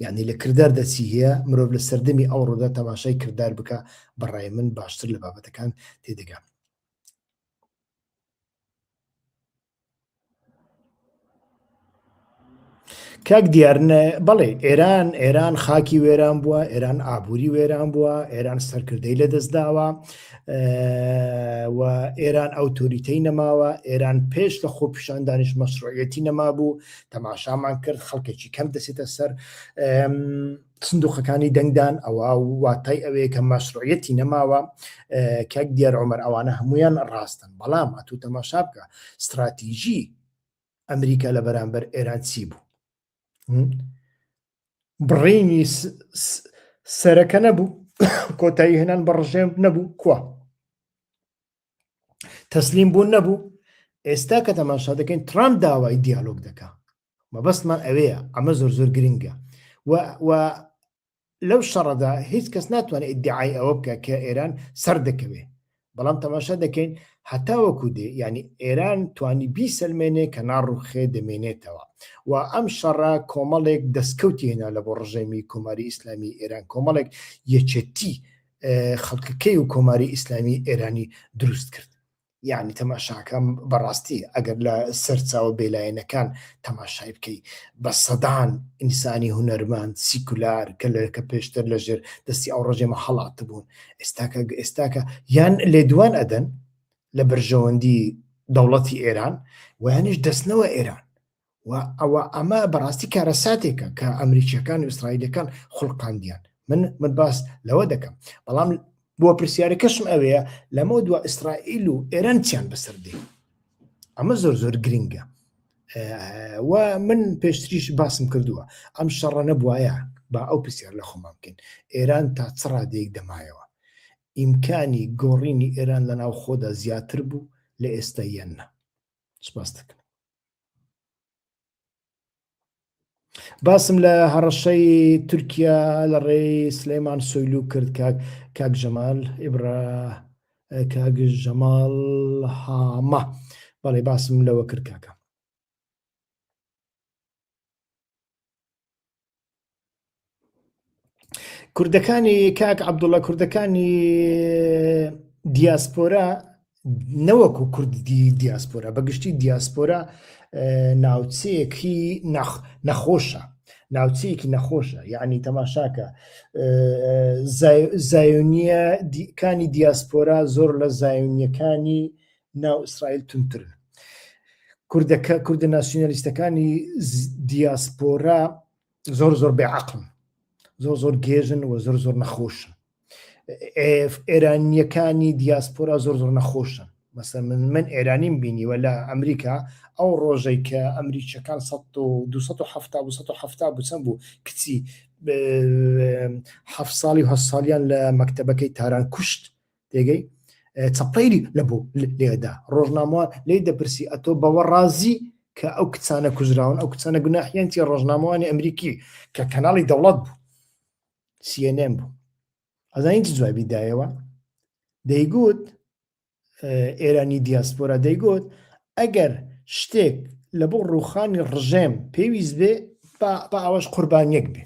یعنی لە کردار دەچی هەیە مرۆڤ لە سەردەمی ئەو ڕۆدا تەماشای کردار بکە بەڕای من باشتر لە بابەتەکان تێدەگام کاک دیارنە بەڵێ ئێران ئێران خاکی وێران بووە ئێران ئابووری وێران بووە ئێران سەرکردەی لە دەستداوە و ئێران ئەوتۆریتەی نەماوە ئێران پێش لە خۆپیشاندانش مەسرۆیەتی نەما بوو تەماشامان کرد خەڵکێکی کەم دەسێتە سەر سندوقەکانی دەنگدان ئەوە واتای ئەوەیە کە مەشروعەتی نەماوە کەک دیار عمر ئەوانە هەمویان ڕاستن بەڵام ئەتو تەماشا بکە استراتیژی ئەمریکا لە بەرامبەر ئێران چی بوو بڕینی سەرەکە نەبوو کۆتایی هێنان بە ڕژێم نەبوو کووە تەسلیم بوون نەبوو ئێستا کە تەماشا دەکەین ترامپ داوای دیالۆگ دەکا مەبەستمان ئەوەیە ئەمە زۆر زۆر گرنگە و لەو شەڕەدا هیچ کەس ناتوانێت ئیدعای ئەوە بکە کە ئێران سەر دەکەوێت بەڵام تەماشا دەکەین هەتاوەکو دێ ینی ئێران توانی بی سلمێنێ کە ناڕوخێ دەمێنێتەوە و ئەم شەڕە کۆمەڵێک دەستکەوتی هێنا لە بۆ ڕژێمی کۆماری ئیسلامی ئێران کۆمەڵێک یەکێتی خەڵکەکەی و کۆماری ئیسلامی ئێرانی دروست کرد یعنی تەماشاکەم بەڕاستی ئەگەر لە سەرچاوە بێلایەنەکان تەماشای بکەی بە سەدان ئینسانی هوەرمان سیکولار کە لەکە پێشتر لەژێر دەستی ئەو ڕژێمە هەڵات بوون ئێستاکە ئێستاکە یان لێدوان ئەدەن لە بەرژەوەندی دەوڵەتی ئێران ویانش دەستنەوە ئێران و ئەوە ئەمە بەڕاستی کارەساتێکە کە ئەمریکیەکان و ئیسرائیلەکان خولقاندیان من من باس لەوە دەکەم بەڵام بۆ پرسیارەکەشم ئەوەیە لەمە دو ئیسرائیل و ئێران چیان بەسەر دێ ئەمە زۆر زۆر گرنگە و من پێشتریش باسم کردووە ئەم شەڕە نەبواە با ئەو پرسیار لە خۆمان بکەین ئێران تا چڕا دێک دەمایەوە ئیمکانی گۆڕینی ئێران لە ناو خۆدا زیاتر بوو لە ئێستا یەنە سپاس دەکەم باسم لە هەڕەشەی تورکیا لە ڕێی سلەیمان سۆیلو کرد کاک جەمال ئیبرا کاک جەمال هامە بەڵێ باسم لەوە کرد کاکە کوردەکانی کاک عبدوڵە کوردەکانی دیاسپۆرا نەوەکو کوردی دیاسپۆرا بەگشتی دیاسپۆرا ناوچەیەکی نەخۆشە ناوچەیەکی نەخۆشە یعنی تەماشاکە زایونیە کانی دیاسپۆرا زۆر لە زایونیەکانی ناو ئیسرائیل تونترن کوردەکە کوردە ناسیۆنالیستەکانی دیاسپۆرا زۆر زۆر بێعقم زۆر زۆر گێژن و زۆر زۆر نەخۆشن ئێرانیەکانی دیاسپۆرا زۆر زۆر نەخۆشن مەسە من من ئێرانیم بینیوە لە ئەمریکا ئەو ڕۆژەی کە ئەمریکیەکان 1970 بچەند بوو کچی ه ساڵی و هە ساڵیان لە مەکتتەبەکەی تاران کوشت تێگەی چەپەیری لە بۆ لێدا ڕۆژناموان لی دەپرسی ئەتۆ بەوە ڕازی کە ئەو کچانە کوژراون ئەو کچانە گوناحیانتی ڕۆژنامەوانی ئەمریکی کە کەناڵی دەوڵەت بوو سیێنێن بوو ئەزانین جوابی دایەوە دەیگوت ئێرانی دیاسپۆرا دەیگوت ئەگەر شتێک لە بۆ ڕوخانی ڕژێم پێویست بێ با ئەوەش قوربانیەک بێ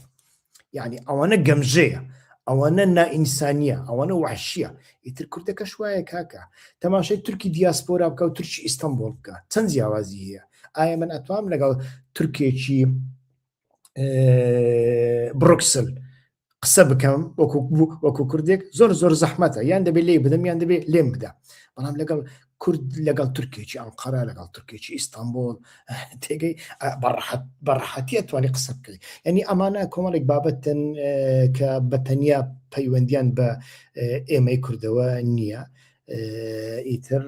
یعنی ئەوانە گەمژەیە ئەوانە نائینسانیە ئەوانە وحشیە ئیتر کوردەکەش وایە کاکە تەماشای تورکی دیاسپۆرا بکە و تورکی ئیستانبول بکە چەند جیاوازی هەیە ئایا من ئەتوام لەگەڵ تورکێکی برۆکسل قسە بکەم وەکو کوردێک زۆر زۆر زەحمەتە یان دەبێت لێ بدەم یان دەبێت لێم بدە بەڵام لەگەڵ کورد لەگەڵ تورکێکی ئەنقەرە لەگەڵ تورکێکی ئیستانبول تێگەی بەڕحەتی ئەتوانی قسە بکەی ینی ئەمانە کۆمەڵێک بابەتن کە بەتەنیا پەیوەندیان بە ئێمەی کوردەوە نییە ئیتر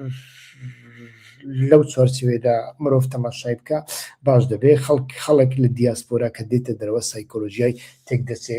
لەو چوارچوێدا مرۆڤ تەماشای بکە باش دەبێ خەڵک خەڵک لە دیاسپۆرا کە دێتە دەرەوە سایکۆلۆژیای تێک دەچێ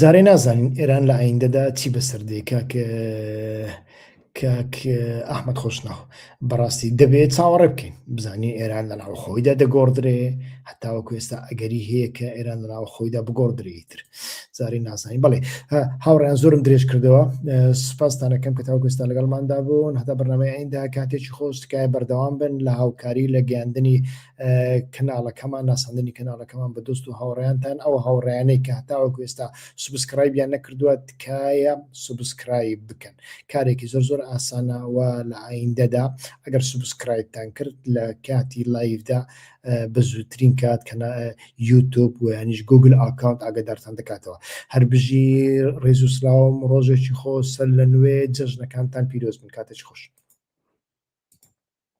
جارێ نازانین ئێران لە ئایندەدا چی بەسەر دێ کاک کاک ئەحمد خۆشناو بەڕاستی دەبێت چاوەڕێ بکەین بزانین ئێران لە ناو خۆیدا دەگۆڕدرێ هەتاوە کوێستا ئەگەری هەیە کە ئێران لە ناو خۆیدا بگۆڕدرێتتر زاری نازانین بڵێ هاوڕیان زۆرم درێژ کردەوە سوپاستانەکەم کە تاو کوێستا لەگەڵماندا بوون هەتا بەرنمەی ئەیندا کاتێکی خۆش تکایە بەردەوام بن لە هاوکاری لە گەاندنی کەناڵەکەمان ناساندنی کەناڵەکەمان بە دۆست و هاوڕیانتان ئەو هاوڕیانەی کە هەتاوەک ئێستا سوبسکرایبیان نەکردووە تکایە سوبسکرایب بکەن کارێکی زۆر زۆر ئاسانەوە لە ئایندەدا ئەگەر سوبسکرایبتان کرد لە کاتی لایفدا بە زووترین کات کە یوتوب و ینیش گوگل ئاکاونت ئاگدارتان دەکاتەوە هەر بژی ڕێز و سلااوم ڕۆژێکی خۆ سەر لە نوێ جەژنەکانتان پیرۆز من کاتێکی خۆش